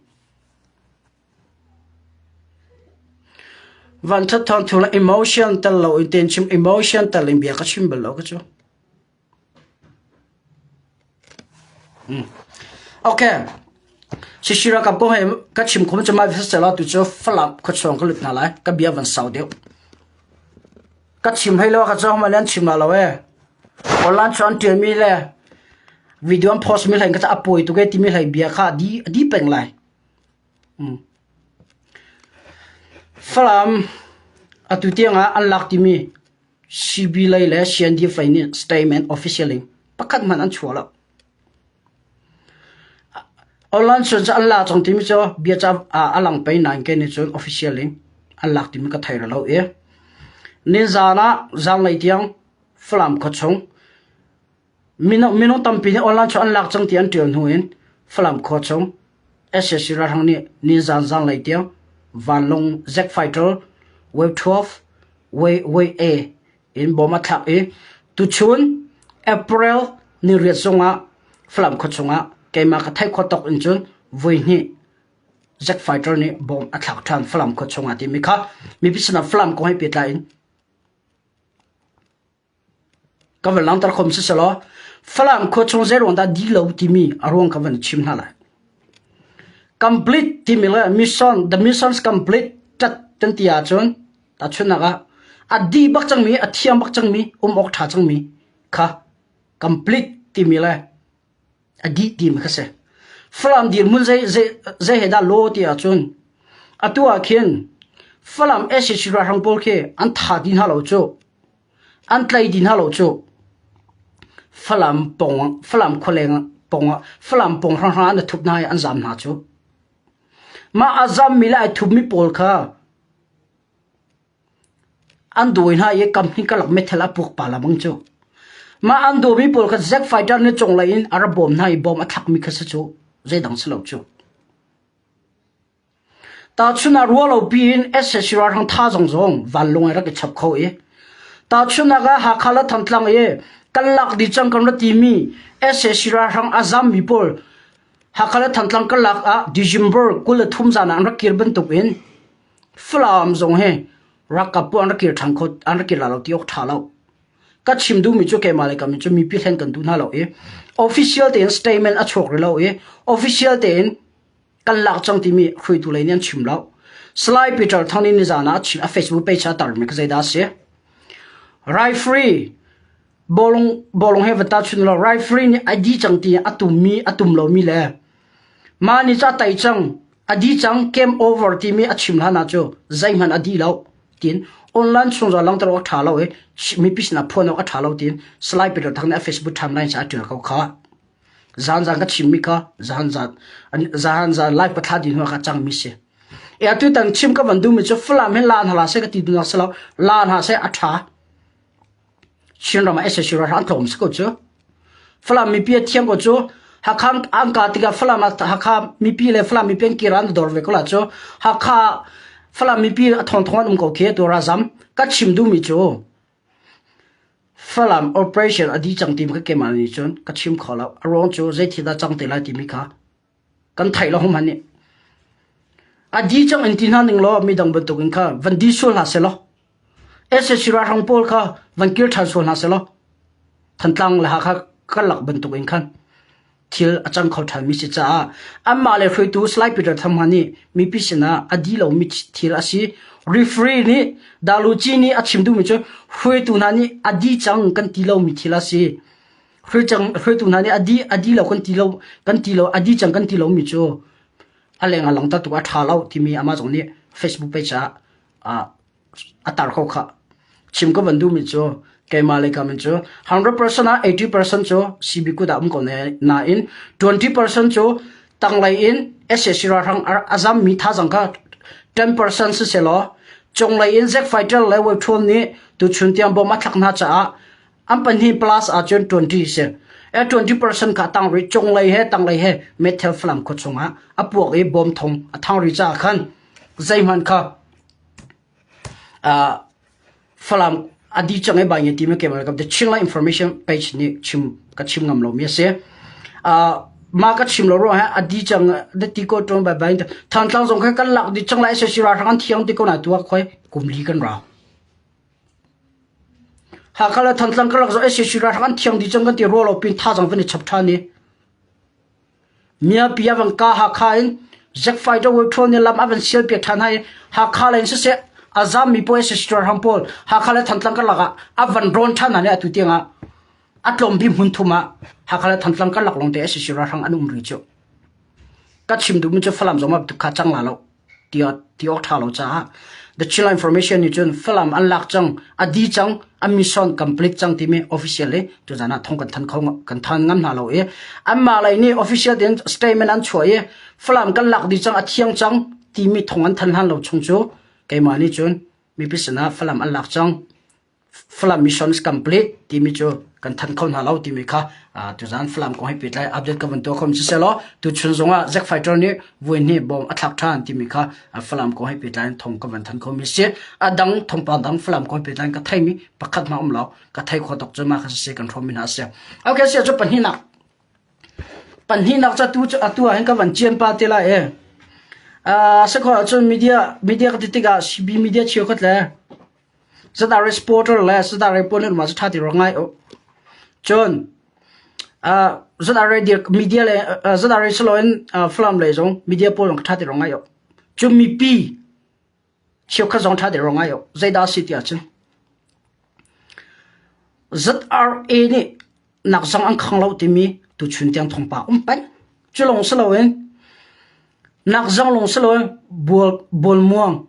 Van that thon thula emotion tal lo in ten chim emotion tal in bia ka chim bel lo ka chu. Shishira kampung he ka chim khom cu mai visa celo tu cu Falam khuachung ka lut hna lai ka bia van sau deuh. Ka chim hlei lo ka cang ma len chim ma lo e. Online cu an ṭial mi le video an post mi hlei ka ca a pawi tuk e timi hlei bia kha a di a di peng lai. Falam atu tiangah an lak timi Sibi lei le Siandeep fei nih statement officially pakhat hmanh an chuah lo. Online cun cu an la cang timi cu bia ca a lang pei nain kei nih cun officially an lak timi ka thei lo i. Nizaan ah zanlei tiang Falam khuachung Minung tampi nih online chung an lak cang ti an ṭial hnu in Falam khua chung SAC ralhrang nih nizaan zanlei tiang vanlung Zack Fighter Wave 12 Wave Wave in bom a thlak i tuchun April ni riat zung ah Falam khua chungah keimah ka theih khawh tawk in cun voihnih Zack Fighter nih bom a thlak ṭhan Falam khua chungah timi kha mipi sinah Falam kong he pehtlai in Ka van langhter khawm siselaw Falam khua chung zeiruang dah dih lo timi a ruang ka van chim hna lai. Complete timi le mission, the missions complete tat kan ti ahcun tahchunhnak ah a dih bak cangmi, a thiang bak cangmi, um awk ṭha cangmi kha complete timi le a dih ti mi kha si. Falam dirhmun zei, zei, zei he dah law ti ahcun, atu ah khin Falam SSC ralhrang pawl khi an tha ti hna lo cu. An tlai ti hna lo cu. Falam pong, Falam khualeng pong, Falam pong hranghrang an thup hna i an zam hna cu. Mah a zam mi le ai thup mi pawl kha An dawi hna i company karlak meithal a puak pala bang cu mah an dawmi pawl kha Zack Fighter nih conglei in a ra bawm hna i bom a thlakmi kha si cu zeidang si lo cu. Tahchun ah rualopi in SSC ralhrang tha zong zong vanlawng ai rak i chap kho i tahchun ah Hakha le Thantlang i kan lak dih cang kan ra timi SSC ralhrang a zammi pawl Hakha le Thantlang karlak ah December kul le thum zan ah an rak kir bantuk in Falam zong hi ralkap bu an rak kir ṭhan kho an rak kir la lo ti awk ṭha lo. Ka chim duhmi cu keimah le ka min cu mipi hlen kan duh hna lo i official tein statement a chuak rih lo i official tein kan lak cang timi hruaitu lei nih an chim lo. Salai Peter Thang nih nizaan ah a chim a Facebook page ah a tarmi kha zeidah a si? Referee bawlung bawlung he vanta chun lo referee nih a di cang ti a tummi a tum lomi le mah nih ca tai cang A di cang game over timi a chim hlan ah cu zeihmanh a di lo tiin online chungzal langter awk ṭha lo i mipi sinah phuan awk a ṭha lo tiin Salai Peter Thang nih a Facebook timeline ah a ṭial ko kha. Zan zan ka chimmi kha zan zan zan zan live pa thla din hua ka cangmi si. E atu tan chim ka van duhmi cu Falam hin lan hala se ka ti dunak selo lan ha se a ṭha. Chinram ah SSC ralhrang thawk um si ko cu. Falam mipi a thiam ko cu Hakha an ka tikah Falam ah Hakha mipi le Falam mipi an kir an dor ve ko la cu Hakha Falam mipi a thong thong an um ko khi tu razam ka chim duhmi cu Falam operation adi cang timi ka kem ani cun ka chim kho lo a ruang cu zei thil dah cang te lai timi kha kan theih lo hum han nih a di cang in ti hna ning law midang bantuk in kha van di sual hna se law SSC ralhrang pawl kha van kir ṭhan sual hna se law thantlang le ha kha kan lak bantuk in khan thil a cang kho ṭhan mi si caah anmah le hruaitu Salai Peter Tham ha nih mipi sinah a di lomi thil a si referee nih Daluci nih a chim duhmi cu hruaitu hna nih a di cang kan ti lomi thil a si hruaitu hna nih a di lo kan ti lo kan ti lo a di cang kan ti lo mi cu a leng ah langta tu a ṭha lo timi amah zong nih Facebook page ah a tar kho kha chim ka van duhmi cu keimah le kamen cu 100% ah 80% cu CB kut ah um ko ne nain 20% cu tanglei in SAC ralhrang a zam mi thazang ka 10% si se law conglei in Jack Fighter le Wei Ṭhuan nih tu chun tiang bom a thlak hna caah An pahnih plus ahcun 20 si. E 20 percent kha tang ri cunglei he tanglei he meithal falam khua chungah a puak i bawm thong a thang ri caah khan zeihmanh kha falam adi chang e bai nge time kemal kam the ching la information page ni chim ka chim ngam lo mi ase ma ka chim lo ro ha adi chang de ti ko tong ba bai than tlang zong kha kan lak di chang la se sira rang thiang ti ko na tua khoi kumli kan ra Hakha le Thantlang karlak zawn SAC ralhrang an thiang dih cang kan ti rua lo pin thazang van i chap ṭhan i Miapi ah van ka Hakha in Jack Fighter World nih lam a van sial piak ṭhan hai i Hakha lei in siseh a zammi pawl SAC ralhrang pawl Hakha le Thantlang karlak ah a van rawn ṭhan hna nih atu tiang ah a tlawmbik hmun thum ah Hakha le Thantlang karlak lawngte SAC ralhrang an um rih cu. Ka chim duhmi cu Falam zong ma butuk kha cang la lo. ti awk ṭha lo caah The Chillan Information nih cun Falam an lak cang, a di cang, an mission complete cang timi official i tuzan ah thong kan than kho kan than ngam hna lo i anmah lei nih official tein statement an chuah i Falam kan lak dih cang a thiang cang timi thong an than hlan lo chung cu keimah nih cun mipi sinah Falam an lak cang. Falam Missions Complete timi cu kan than kho hna lo timi kha tuzan Falam kong he pehtlai update ka van tuah khom siselo tu chun zongah Jack Fighter nih vuin hi bom a thlak than timi kha Falam kong he pehtlai in thong ka van than khomi si a dang thongpa dang Falam kong he pehtlai in ka theimi pakhat ma um lo ka thei kho tok cu ma kha si kan thommi hna si okay si cu pahnih nak pahnih nak cha tu atu ah hin ka van chian pa te la e sakho ahcun media media ka ti tikah CB media cheu khat le Cunah reporter le cunah report nih rumah cu ṭha ti ruang ngai uh. Cun uh, cunah radio media le uh, cunah radio siloin uh, Falam lei zong media pawl zong ṭha ti ruang ngai uh. Cu mipi cheukhat zong ṭha ti ruang ngai uh. Zeidah a si tiah cun ZRA nih nak zong an khang lo timi tuchun tiang thongpa um pai. Cu lawng si loin nak zong lawng si loin bual bual muang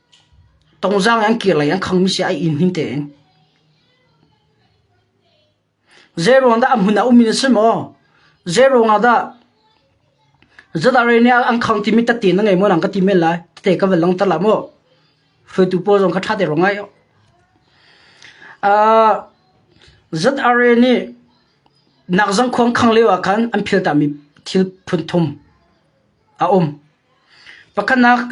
Tongzang an kir lei an khangmi si ai inn him tein. Zeiruang dah a hmun ah ummi na si maw? Zeiruang ah dah Zata rei nih an khang timi tate na ngei maw lang ka ti men lai. Tate ka van langtar la maw? Hruaitu pawl zong ka ṭha te rong ai. Uh, Zat are nih nakzang khuang khang leo ah khan an philta mi thil phun thum a um. Pakhanak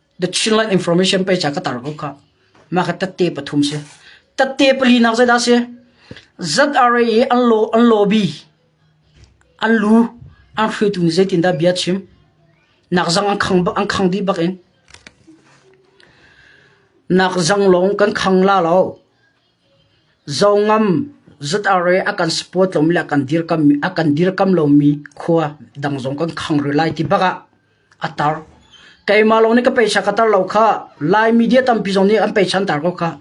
The Chinland Information pe cha ka tar ko kha ma ka tatte pathum si tatte pali nak zai da si ZRA i an lo an lobby an lu an hru tu ni zeitin da bia chim nak zang an khang an khang di bak in nak zang long kan khang la lo zongam ZRA akan support lom le akan dir kam akan dir kam lo mi khwa dang zong kan khang ri lai ti baka A tar. Keimah lawng nih ka peisa ka tar lo khah. Lai media tampi zong nih an peisa an tar ko khah.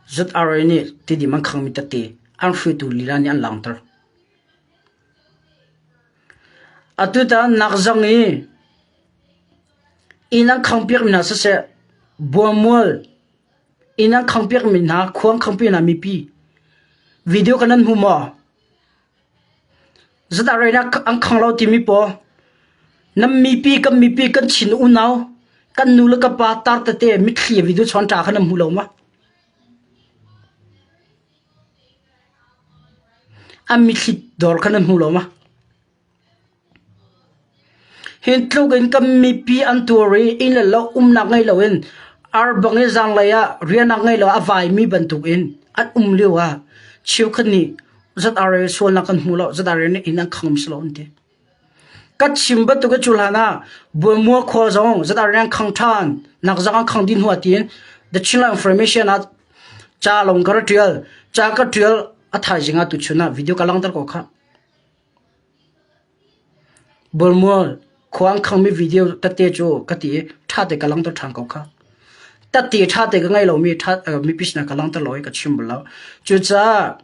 Zut Are nih tidim an khangmi tete an hruaitu lila nih an langter. Atu ta nak zong i inn an khang piakmi hna siseh, buamual Inn an khang piakmi hna khuang khangpian ah mipi video kan an hmu maw? Zatah reinak an khang lo timi paw nam mipi kan mipi kan chin unau kan nu le ka pa tar tate mitthli video chon tra khan an hmu lo ma. An mitthli dor khan an hmu lo ma. Hi tluk in kan mipi an tuar i inn le lo umnak ngei loin arbang i zaanglei ah riahnak ngei loah a vaimi bantukin an um lioah cheukhat nih ZRL sualnak kan hmu lo, ZRL nih inn an khang ngam si lo an ti. Kan chim bantuk hi cu hlanah Bualmua khua zong ZRL an khang ṭhan, nakzak an khang dih hnu ah tiin The Chinland Information ah ca lawng ka ra ṭial, ca ka ṭial a thaizing ah tuchun ah video ka langhter ko khah. Bulmual khuang khangmi video ka te cu ka ti i ṭha te ka langhter ṭhan ko kha. Tatti ṭha te ka ngei lomi mipi sinah ka langhter law hi ka chim bal lo. Cucaah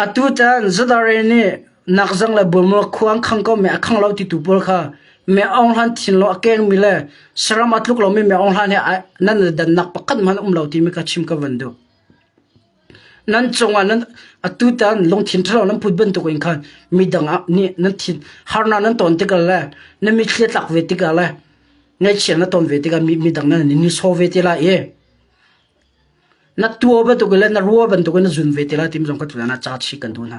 atu caan Zudare nih nakzang le bulmual khuang khang ko meh a khang lo titu pawl kha meh aung hlan thin law a kengmi le saram a tluk lomi meh aung hlan he nan dannak pakhat hmanh a um lo timi kha chim ka van duh. Nan cungah nan atutan lungthin ṭhalo nan put bantukin khan midang ah nih nan thin harnak nan ton tikah le na mithli a tlak ve tikah le ngaihchia na ton ve tikah midang nan in nihsawh ve ti lai i na tuah bantukin le na ruah bantukin na zun ve ti lai ti zong ka thuh hna ca chih kan duh hna.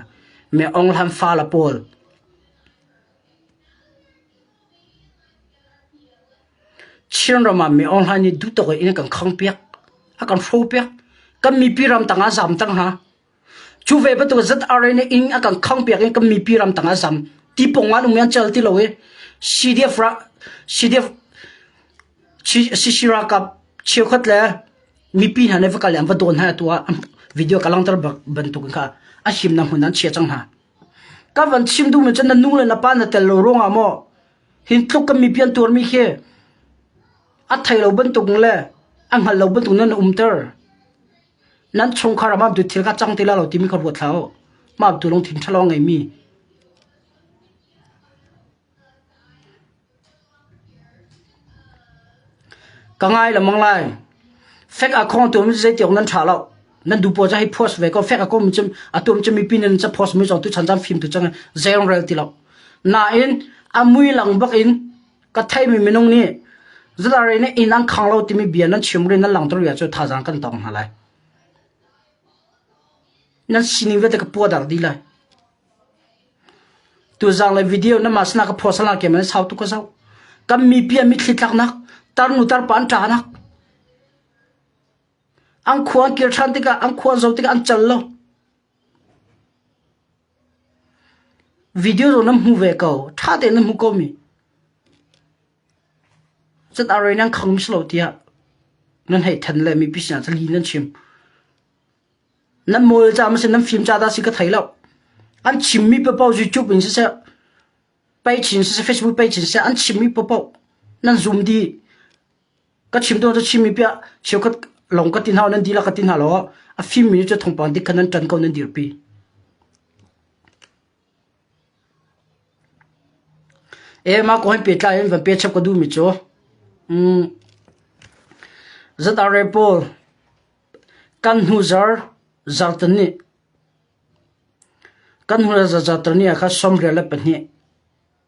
Mi ong hlan fale pawl Chinram ah mi awnglai nih duhtuk in a kan khang piak, a kan hro piak. Kan mipi ramtang ah zam cang hna. Cu ve bantuk ZRA nih inn a kan khang piak in kan mipi ramtang ah zam. Ti pong an um i an cel ti lo i CDF ra CDF CC ralkap cheukhat le mipi hna nih va kal i an va dawn hna atu ah video ka langhter bantuk in kha a him na hmun an chia cang hna. Ka van chim duhmi cu na nu le na pa na tel lo ruangah maw hi tluk kan mipi an tuarmi khi a thei lo bantukin le a hngalh lo bantukin nan umter. Nan chungkhar ah mah bantuk thil kha cang ti la lo timi kha ruat hlah u. Mah bantuk lungthin ṭha lawng a ngeimi. Ka ngai lengmang lai. Fek a khawng tu zeitiawk nan tha lo. Nan du pawl cu hei post ve ko. Fek a khawng cun a tum cu mipi nih ca post mi zong tu chan chan fim tu cang zei rong rel ti lo. Nain a mui lang bak in ka theimi minung nih zalari nih inn an khang lo timi bia nan chim ri nan lang tuk ri ah cu thazaang kan tong hna lai. Nan sining vialte ka puadar dih lai. Tuzang le video namah sinah ka phuasal nak tiang an sau tuk ka zoh. Kan mipi an mitthli tlaknak, tarnu tarpa an ṭanak. An khua an kir ṭhan tikah, an khua an zoh tikah an cal lo. Video zong nan hmu ve ko. Ṭha tein nan hmu ko mi. Cun a rain an khang mi si lo tiah nan hei ṭhen le mipi sinah cali nan chim. Nan mawle caah masen nan fim caah dah si ka thei loh. An chimmi paohpaoh YouTube in siseh, peichin siseh, Facebook peichin siseh an chimmi paohpaoh nan zoom dih. Ka chim tu cu chimmi piah cheukhat lawng ka ti hna nan dihlak ka ti hna law a fimmi cu thawngpang dik kha nan ṭan ko nan dirpi. E ma ko hain pehtlai in van pe chap ka duhmi cu, um, zat are pawl Kan hnu le zarter ni ah khan sawmrial le pahnih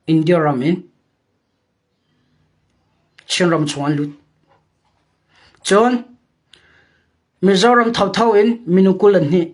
India ram in Chinram chung an lut. Cun Mizoram thotho in minu kul an hnih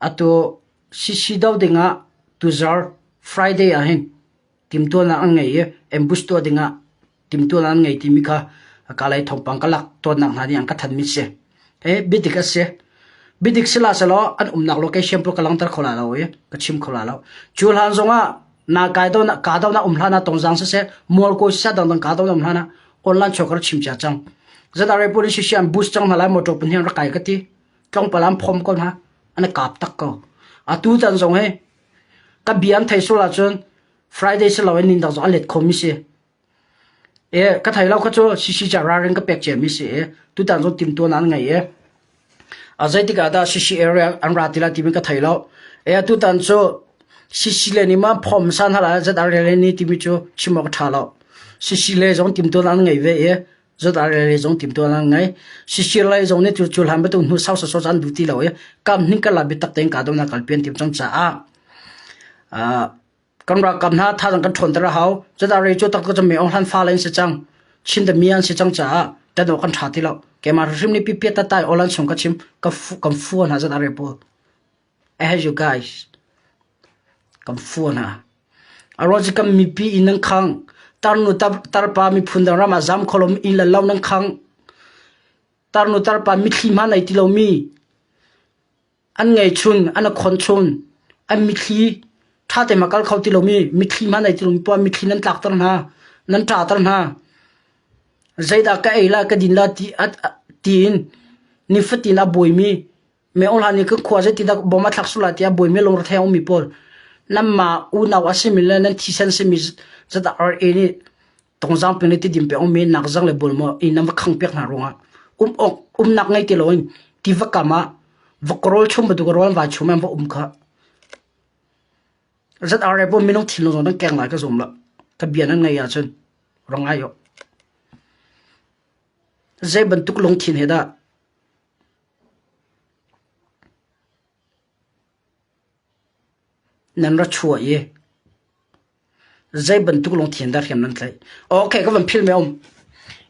Atu sisi do dingah tuzar Friday ahhin timtuahnak an ngei i ambush tuah dingah timtuahnak an ngei timi kha kalay thawngpang ka lak tawnnak hna nih an ka thanmi si. Hi bidik a si. Bidik sila selaw an umnak location pawh ka langhter kho la lo i ka chim kho la lo. Cu hlan zongah na kai do na ka do na um hlan ah tongzang siseh mual kawi siseh dangdang ka do na um hlan ah online chokar chim cia cang. Zata Rai police si an boost cang hna lai motor pun hian rak kai ka ti. tlawmpal an phom ko hna an kap tak ko atu tan zong hi ka bia an thei sul ahcun friday si lo in nin zong an let khom mi si e ka thai lo kha chu shishi cha ra ring ka pek che mi si e tu tan zong tim tuan an ngai e a zeitika da shishi area an ra tila ti mi ka thai lo e tu tan chu shishi le ni ma phom san hala zat arele ni ti mi chu chimok tha lo shishi le zong tim tuan an ngai ve e Zat ar le zong tim tuan an ngai. Sisir lai zong nih thil cuhlan betu hnu sau sosot an duh ti lo i kam hning kala bitak tein ka dona kal pian tim cang caah kan rak kam hna tha dang kan ṭhawn tara hau zat ar cu tak ka chame ong hlan fa lain se cang chin da mi an se cang caah tano kan ṭha ti lo keimah hrim ni pipiat ta tai olan chung ka chim ka fu kan fu na zat ar po Kan fuh hna. A ruang cu kan mipi inn nan khangh. Tarnu tarpa miphun dang ram ah zam kho lomi inn le lo nan khangh. Tarnu tarpa mithli hma nei ti lomi an ngei chun, an a khon chun. An mithli ṭha teima kal kho ti lomi, mithli hma nei ti lomi poah mithli nan tlakter hna. Nan ṭahter hna. Zeidah ka ei lai, ka din lai tiin nifatin a buaimi Meohlan i ka khua zeiti dak bom a thlak sul ah tiah buaimi lungrethei a ummi pawl nanmah unau a simi le nan thisen simi zadak arke nih tongzang peng le tidim pe ongmi nak zang le bulmaw i nan va khang piak hna ruangah um awk umnak ngei ti loin ti va kam ah va karawl chung bantuk rawl va chung men va um kha zat are bo minung thil zong nan keng lai ka zum la ka bia nan ngei ahcun rong ai yo zei bantuk lungthin he dah Nan ra chuah i zeibantuk lungthin dah hriam nan tlaih? Ok, ka van philh mi a um.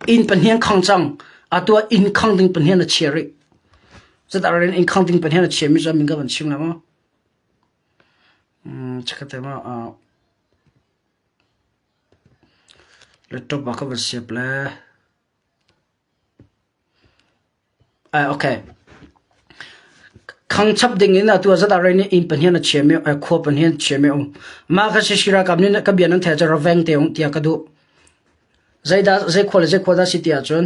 Inn pahnih an khang cang. Atu ah inn khang ding pahnih an a chia rih. Zatah ral in inn khang ding pahnih an a chia mi cu min ka van chim lai maw? Hmm, chakhat te ma. Uh, laptop ah ka van siap le. Khang chap dingin atu ah zat ah inn pahnih na chiam i khua pahnih na chiam i mah kha Sisi ralkap nih ka bia nan theih ahcun raveng te um tiah ka duh. Zeikhua le zeikhua dah si ti ahcun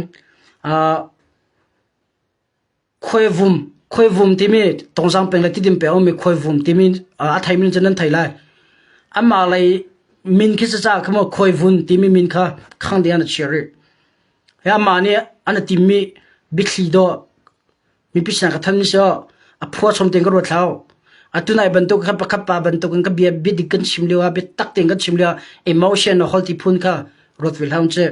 Khuaivum, khuaivum timi tawngzang peng le tidim peng a ummi khuaivum timi a theimi nih cun nan thei lai. Amah lei min khi sacaah kha maw khuaivun timi min kha khang ding an a chia rih. Hi amah nih an a timmi biathli dawh mipi sinah ka thanmi si awh a phua chom tein ka ruat hlah uh. Atu nai bantuk khan pakhat pa bantuk in ka bia biadik kan chim lioah biatak tein kan chim lioah emotion a holti phun kha ruat ve hlah uh sih.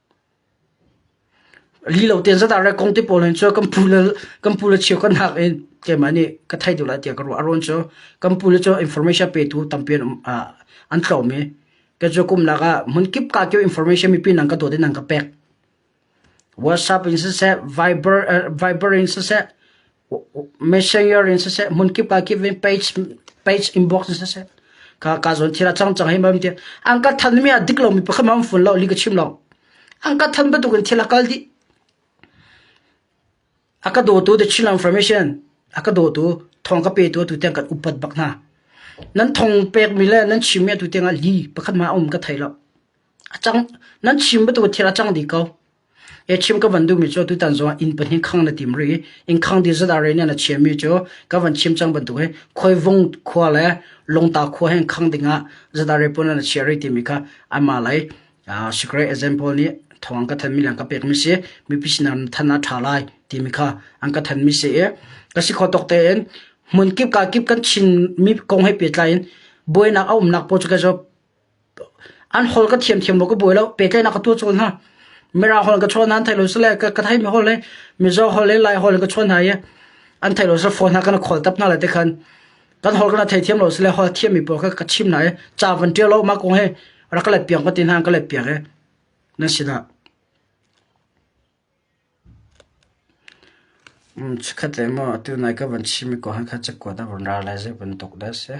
Li lo tein zat ah rek kong te pawl hin cu kan pu le kan pu le cheu kan hak i keimah nih ka theih deuh lai tiah ka ruah. A ruang cu kan pu le cu information petu tampi an um ah an tlawm i kei cu kum lak ah hmun kip kaa kio information mipi nang ka dawt i nang ka pek. WhatsApp in siseh, Viber, eh, Viber in siseh, Messenger in siseh, hmun kip ah kip in page inbox in siseh ka zawn thira cang cang hei mam tiah an ka than mi a dik lo mi pakhat mam fun lo li ka chim lo an ka than bantuk in thil a kal dih a ka daw tu the chill information a ka daw tu thong ka pe tu tu tiang kan upat bak hna nan thong pek mi le nan chim mi tu tiang ah li pakhat ma um ka thei lo a chang nan chim bantuk thil a chang di ko Chim ka van duhmi cu atutan zongah inn pahnih khang na tim rih i inn khang ti zat ah rel nih na chiami cu ka van chim cang bantuk hi Khuaivung khua le Lungta khua he khang dingah zat ah rel pun ah na chia rih timi kha anmah lei secret example nih thawng ka thanmi le an ka pekmi si mipi sinah than ah tha lai timi kha an ka thanmi si i ka si kho tok tein hmun kip ka kip kan chinmi kong he pehtlai in buainak a umnak pawl cu kai zuam An hol ka thiamthiam lo ka buai lo. Pehtlaihnak ka tuah cawn hna. Mirang hol ka chuah hna an thei lo sile ka, ka theimi hol le Mizo hol le Lai hol le ka chuah hna i an thei lo sile phone ha kan khawl tap hna le te khan kan hol kana thei thiam lo sile hol thiammi pawl kha ka chim hna i ca van tial lo ma kong hi rak ka let piang ka ti hna ka let piak i nan si dah. Um, chikhat le mo atu nai ka van chim i ko han kha chek kuat a van ra lai zai van tuk da se.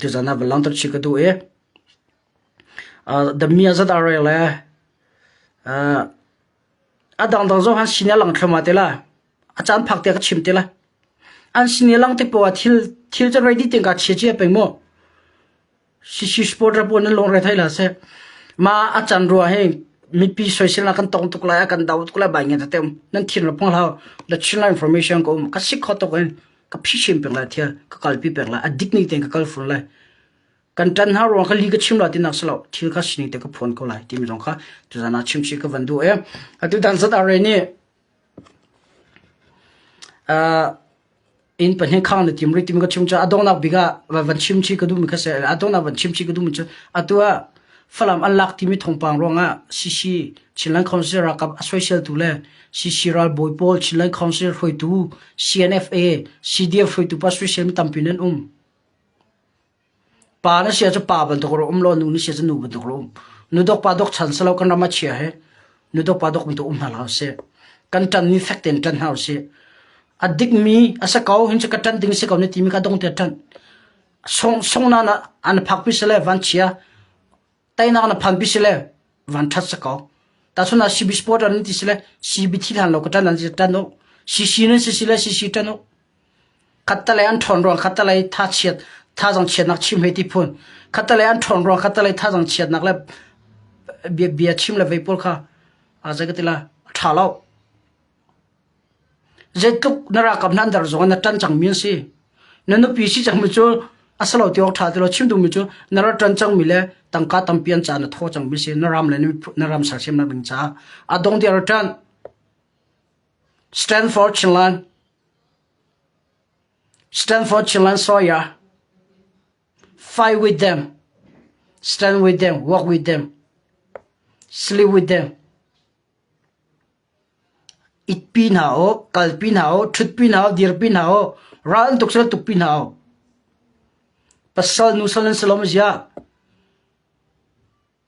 Tuzan ah va lang tuk chih ka duh i dami ah zat aa rel le a dangdang zong an sin i a lang thluahmah ti la, a caan phak tiah ka chim ti la. An sin i a lang tik poah ah thil thil cu ready tein kaa chia cia peng maw? Shishi sport ra puan nan lung re thai la seh. Ma a can rua hi mipi soisel ah kan tong tuk lai, a kan dau tuk lai bai nge tatem. Nan thin ra pong lau. The Chinland information ko um. Ka sik kho tuk in ka phishim peng lai thia. Ka kalpi peng lai. A dignity ten ka kal fun lai. Kan tan ha ruang ka li ka chim la tin nak selo. Thil ka sini te ka phuan ko lai. Ti mi dong ka. Tu zana chim si ka vandu e. Atu dan zat are ni Inn pahnih khang na tim rih timi ka chim caah a donghnak bik ah van chimchih ka duhmi kha a si. A donghnak van chimchih ka duhmi cu atu ah Falam an lak timi thawngpang ruangah CC Chinland Council ralkap a soiseltu le CC ralbawi pawl Chinland Council hruaitu CNFA CDF hruaitu pa soisel mi tampi nan um. Pa na sia cu pa bantuk a rak um lo, nu na sia cu nu bantuk a rak um. Nu dawk pa dawk chan si lo kan ram a chia hi nu dawk pa dawk mi tu um hna hlah usih. Kan ṭan mi fek tein ṭan hna usih. A dik mi, a sa ko hin cu ka ṭan ding a si ko ni timi kha dong tiah ṭan. Song, song nan ah an phak pi si le van chia. tainak na phan pi sile van that sa ko ta chun la CB sport ran ti sile CB thi lan lo ka tan an tan no CC ne si sile CC tan no khattale an thon rong khattale tha chiat tha jong chiat nak chim he ti phun khattale an thon rong khattale tha jong chiat nak le bia bia chim le vei pol kha a jagatila tha lo Zeitluk na ralkap hna an dar zongah na ṭan cangmi an si. Na nupi si cangmi cu a si lo ti awk ṭha ti lo chim duhmi cu na rat ṭan cangmi le tangka tampi an caan a thaw cangmi a si. Na ram le na ram sersiam nak ding caah a dong ti a rat ṭan. Stanford Chinland Stanford Chinland Sawyer Fight with them Stand with them Work with them Sleep with them Itpi hna u, kalpi hna u, ṭhutpi hna u, dirpi hna u, raltuk sal tukpi hna u. Pasal nusal an si lo maw ziah?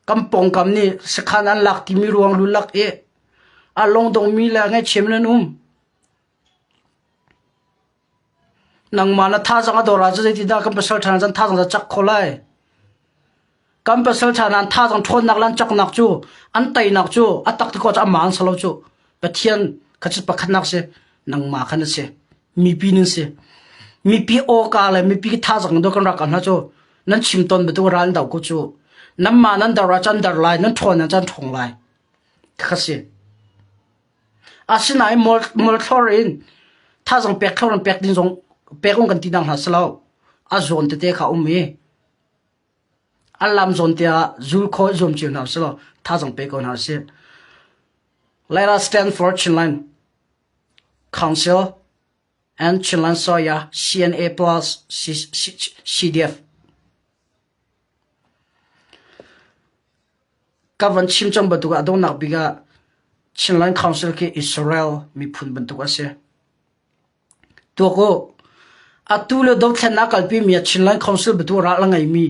Kan pawngkam nih sakhan an lak timi ruang lulak i a lawng dongmi le ngaihthiam in an um. Nangmah na thazang a dawr ah cu zeitindah kan pasalṭha nih cun thazang cu a cak kho lai? Kan pasalṭha nih an thazang ṭhawnnak le an caknak cu an teinak cu a tak tikah cu amah an sa lo cu. Pathian kha cu pakhatnak a si. Nangmah kha na si. Mipi nan si. Mipi awka le mipi thazang in dawt kan ra ko hna cu nan chim tawn bantuk ral an doh ko cu. Nanmah nan dor ah cun an dor lai, nan ṭhawn ah cun an ṭhawng lai. Ti kha a si. Asinain mualthlor in thazang pek thlor nan pek ding zong pek um kan ti dang hlah si lo. A zawn tete kha um i an lam zawn te ah zul khawi zuam cio hna si lo thazang pe ko hna si. Let us stand for Chinland Council and Chinland Soya CNA plus CDF. Ka van chim cang bantuk ah a donghnak bik ah Chinland Council khi Israel miphun bantuk a si. Tuak u, atu le dothlennak kalpimi ah Chinland Council bantuk ral a ngeimi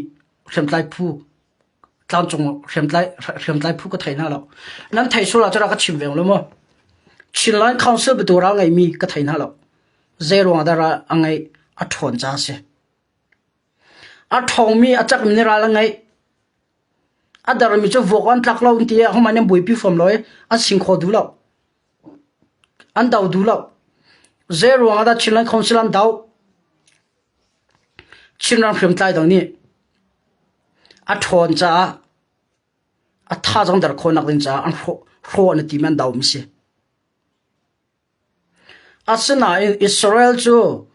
hriamtlai phu tlangcung hriamtlai hriamtlai phu ka thei hna lo. Nan thei sual ah cun rak ka chim veng lo maw? Chinland Council bantuk ral ngeimi ka thei hna lo. Zeiruang ah dah ral a ngeih a ṭhawn ca a si. A ṭhawngmi a cak in ral an ngeih. A dermi cu vuak awk an tlak lo an ti i ahohmanh nih an buaipi fawn lo i an sing kho duh lo. An do duh lo. Zeiruang ahdah Chinland Council an doh? Chinram hriamtlai dang nih a ṭhawn caah a tha zong der khawhnak ding caah an hrawh an i tim i an doh mi a si. Asinain Israel cu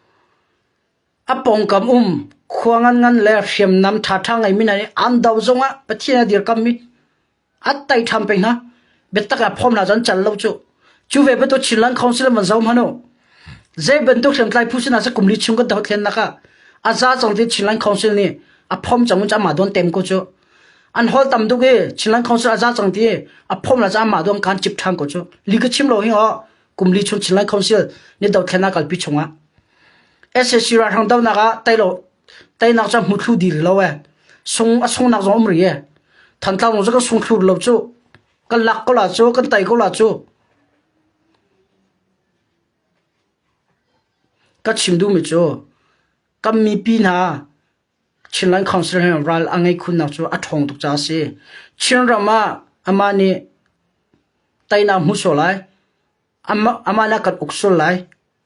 a pawngkam um khua nganngan le hriamnam ṭhaṭha ngeimi hna nih an do zongah Pathian a dirkammi an tei ṭhan peng hna. Biatak ah phawm hna cu an cal lo cuh. Cu ve bantuk Chinland Council an van zoh hmanh u. Zei bantuk hriamtlai phu sinah seh kum li chung kan doh hlennak ah a za cang ti Chinland Council nih a phawm cang in amah dawn tem ko cuh. An holh tam tuk i Chinland Council a za cang ti a phom le cah mah duang kaan cip ṭhan ko cu. Li ka chim lo hi ho kum li chung Chinland Council ni dothlen ah kalpi chungah SAC ralhrang donak ah teilo teinak cu hmu thlu dil lo e sung a sung nak zong um ri e thantlang zong ka sung thlu lo cu kan lak ko la cu kan tai ko la cu ka chim duhmi cu kan mipi hna Chinland Council he ral a ngei khunnak cu a ṭhawng tuk caah a si. Chinram ah amah nih teinak a hmu sual lai, amah nih a kan uk sual lai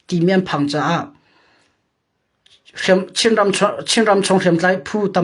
timi an phang caah Chinram chung hriamtlai phu tam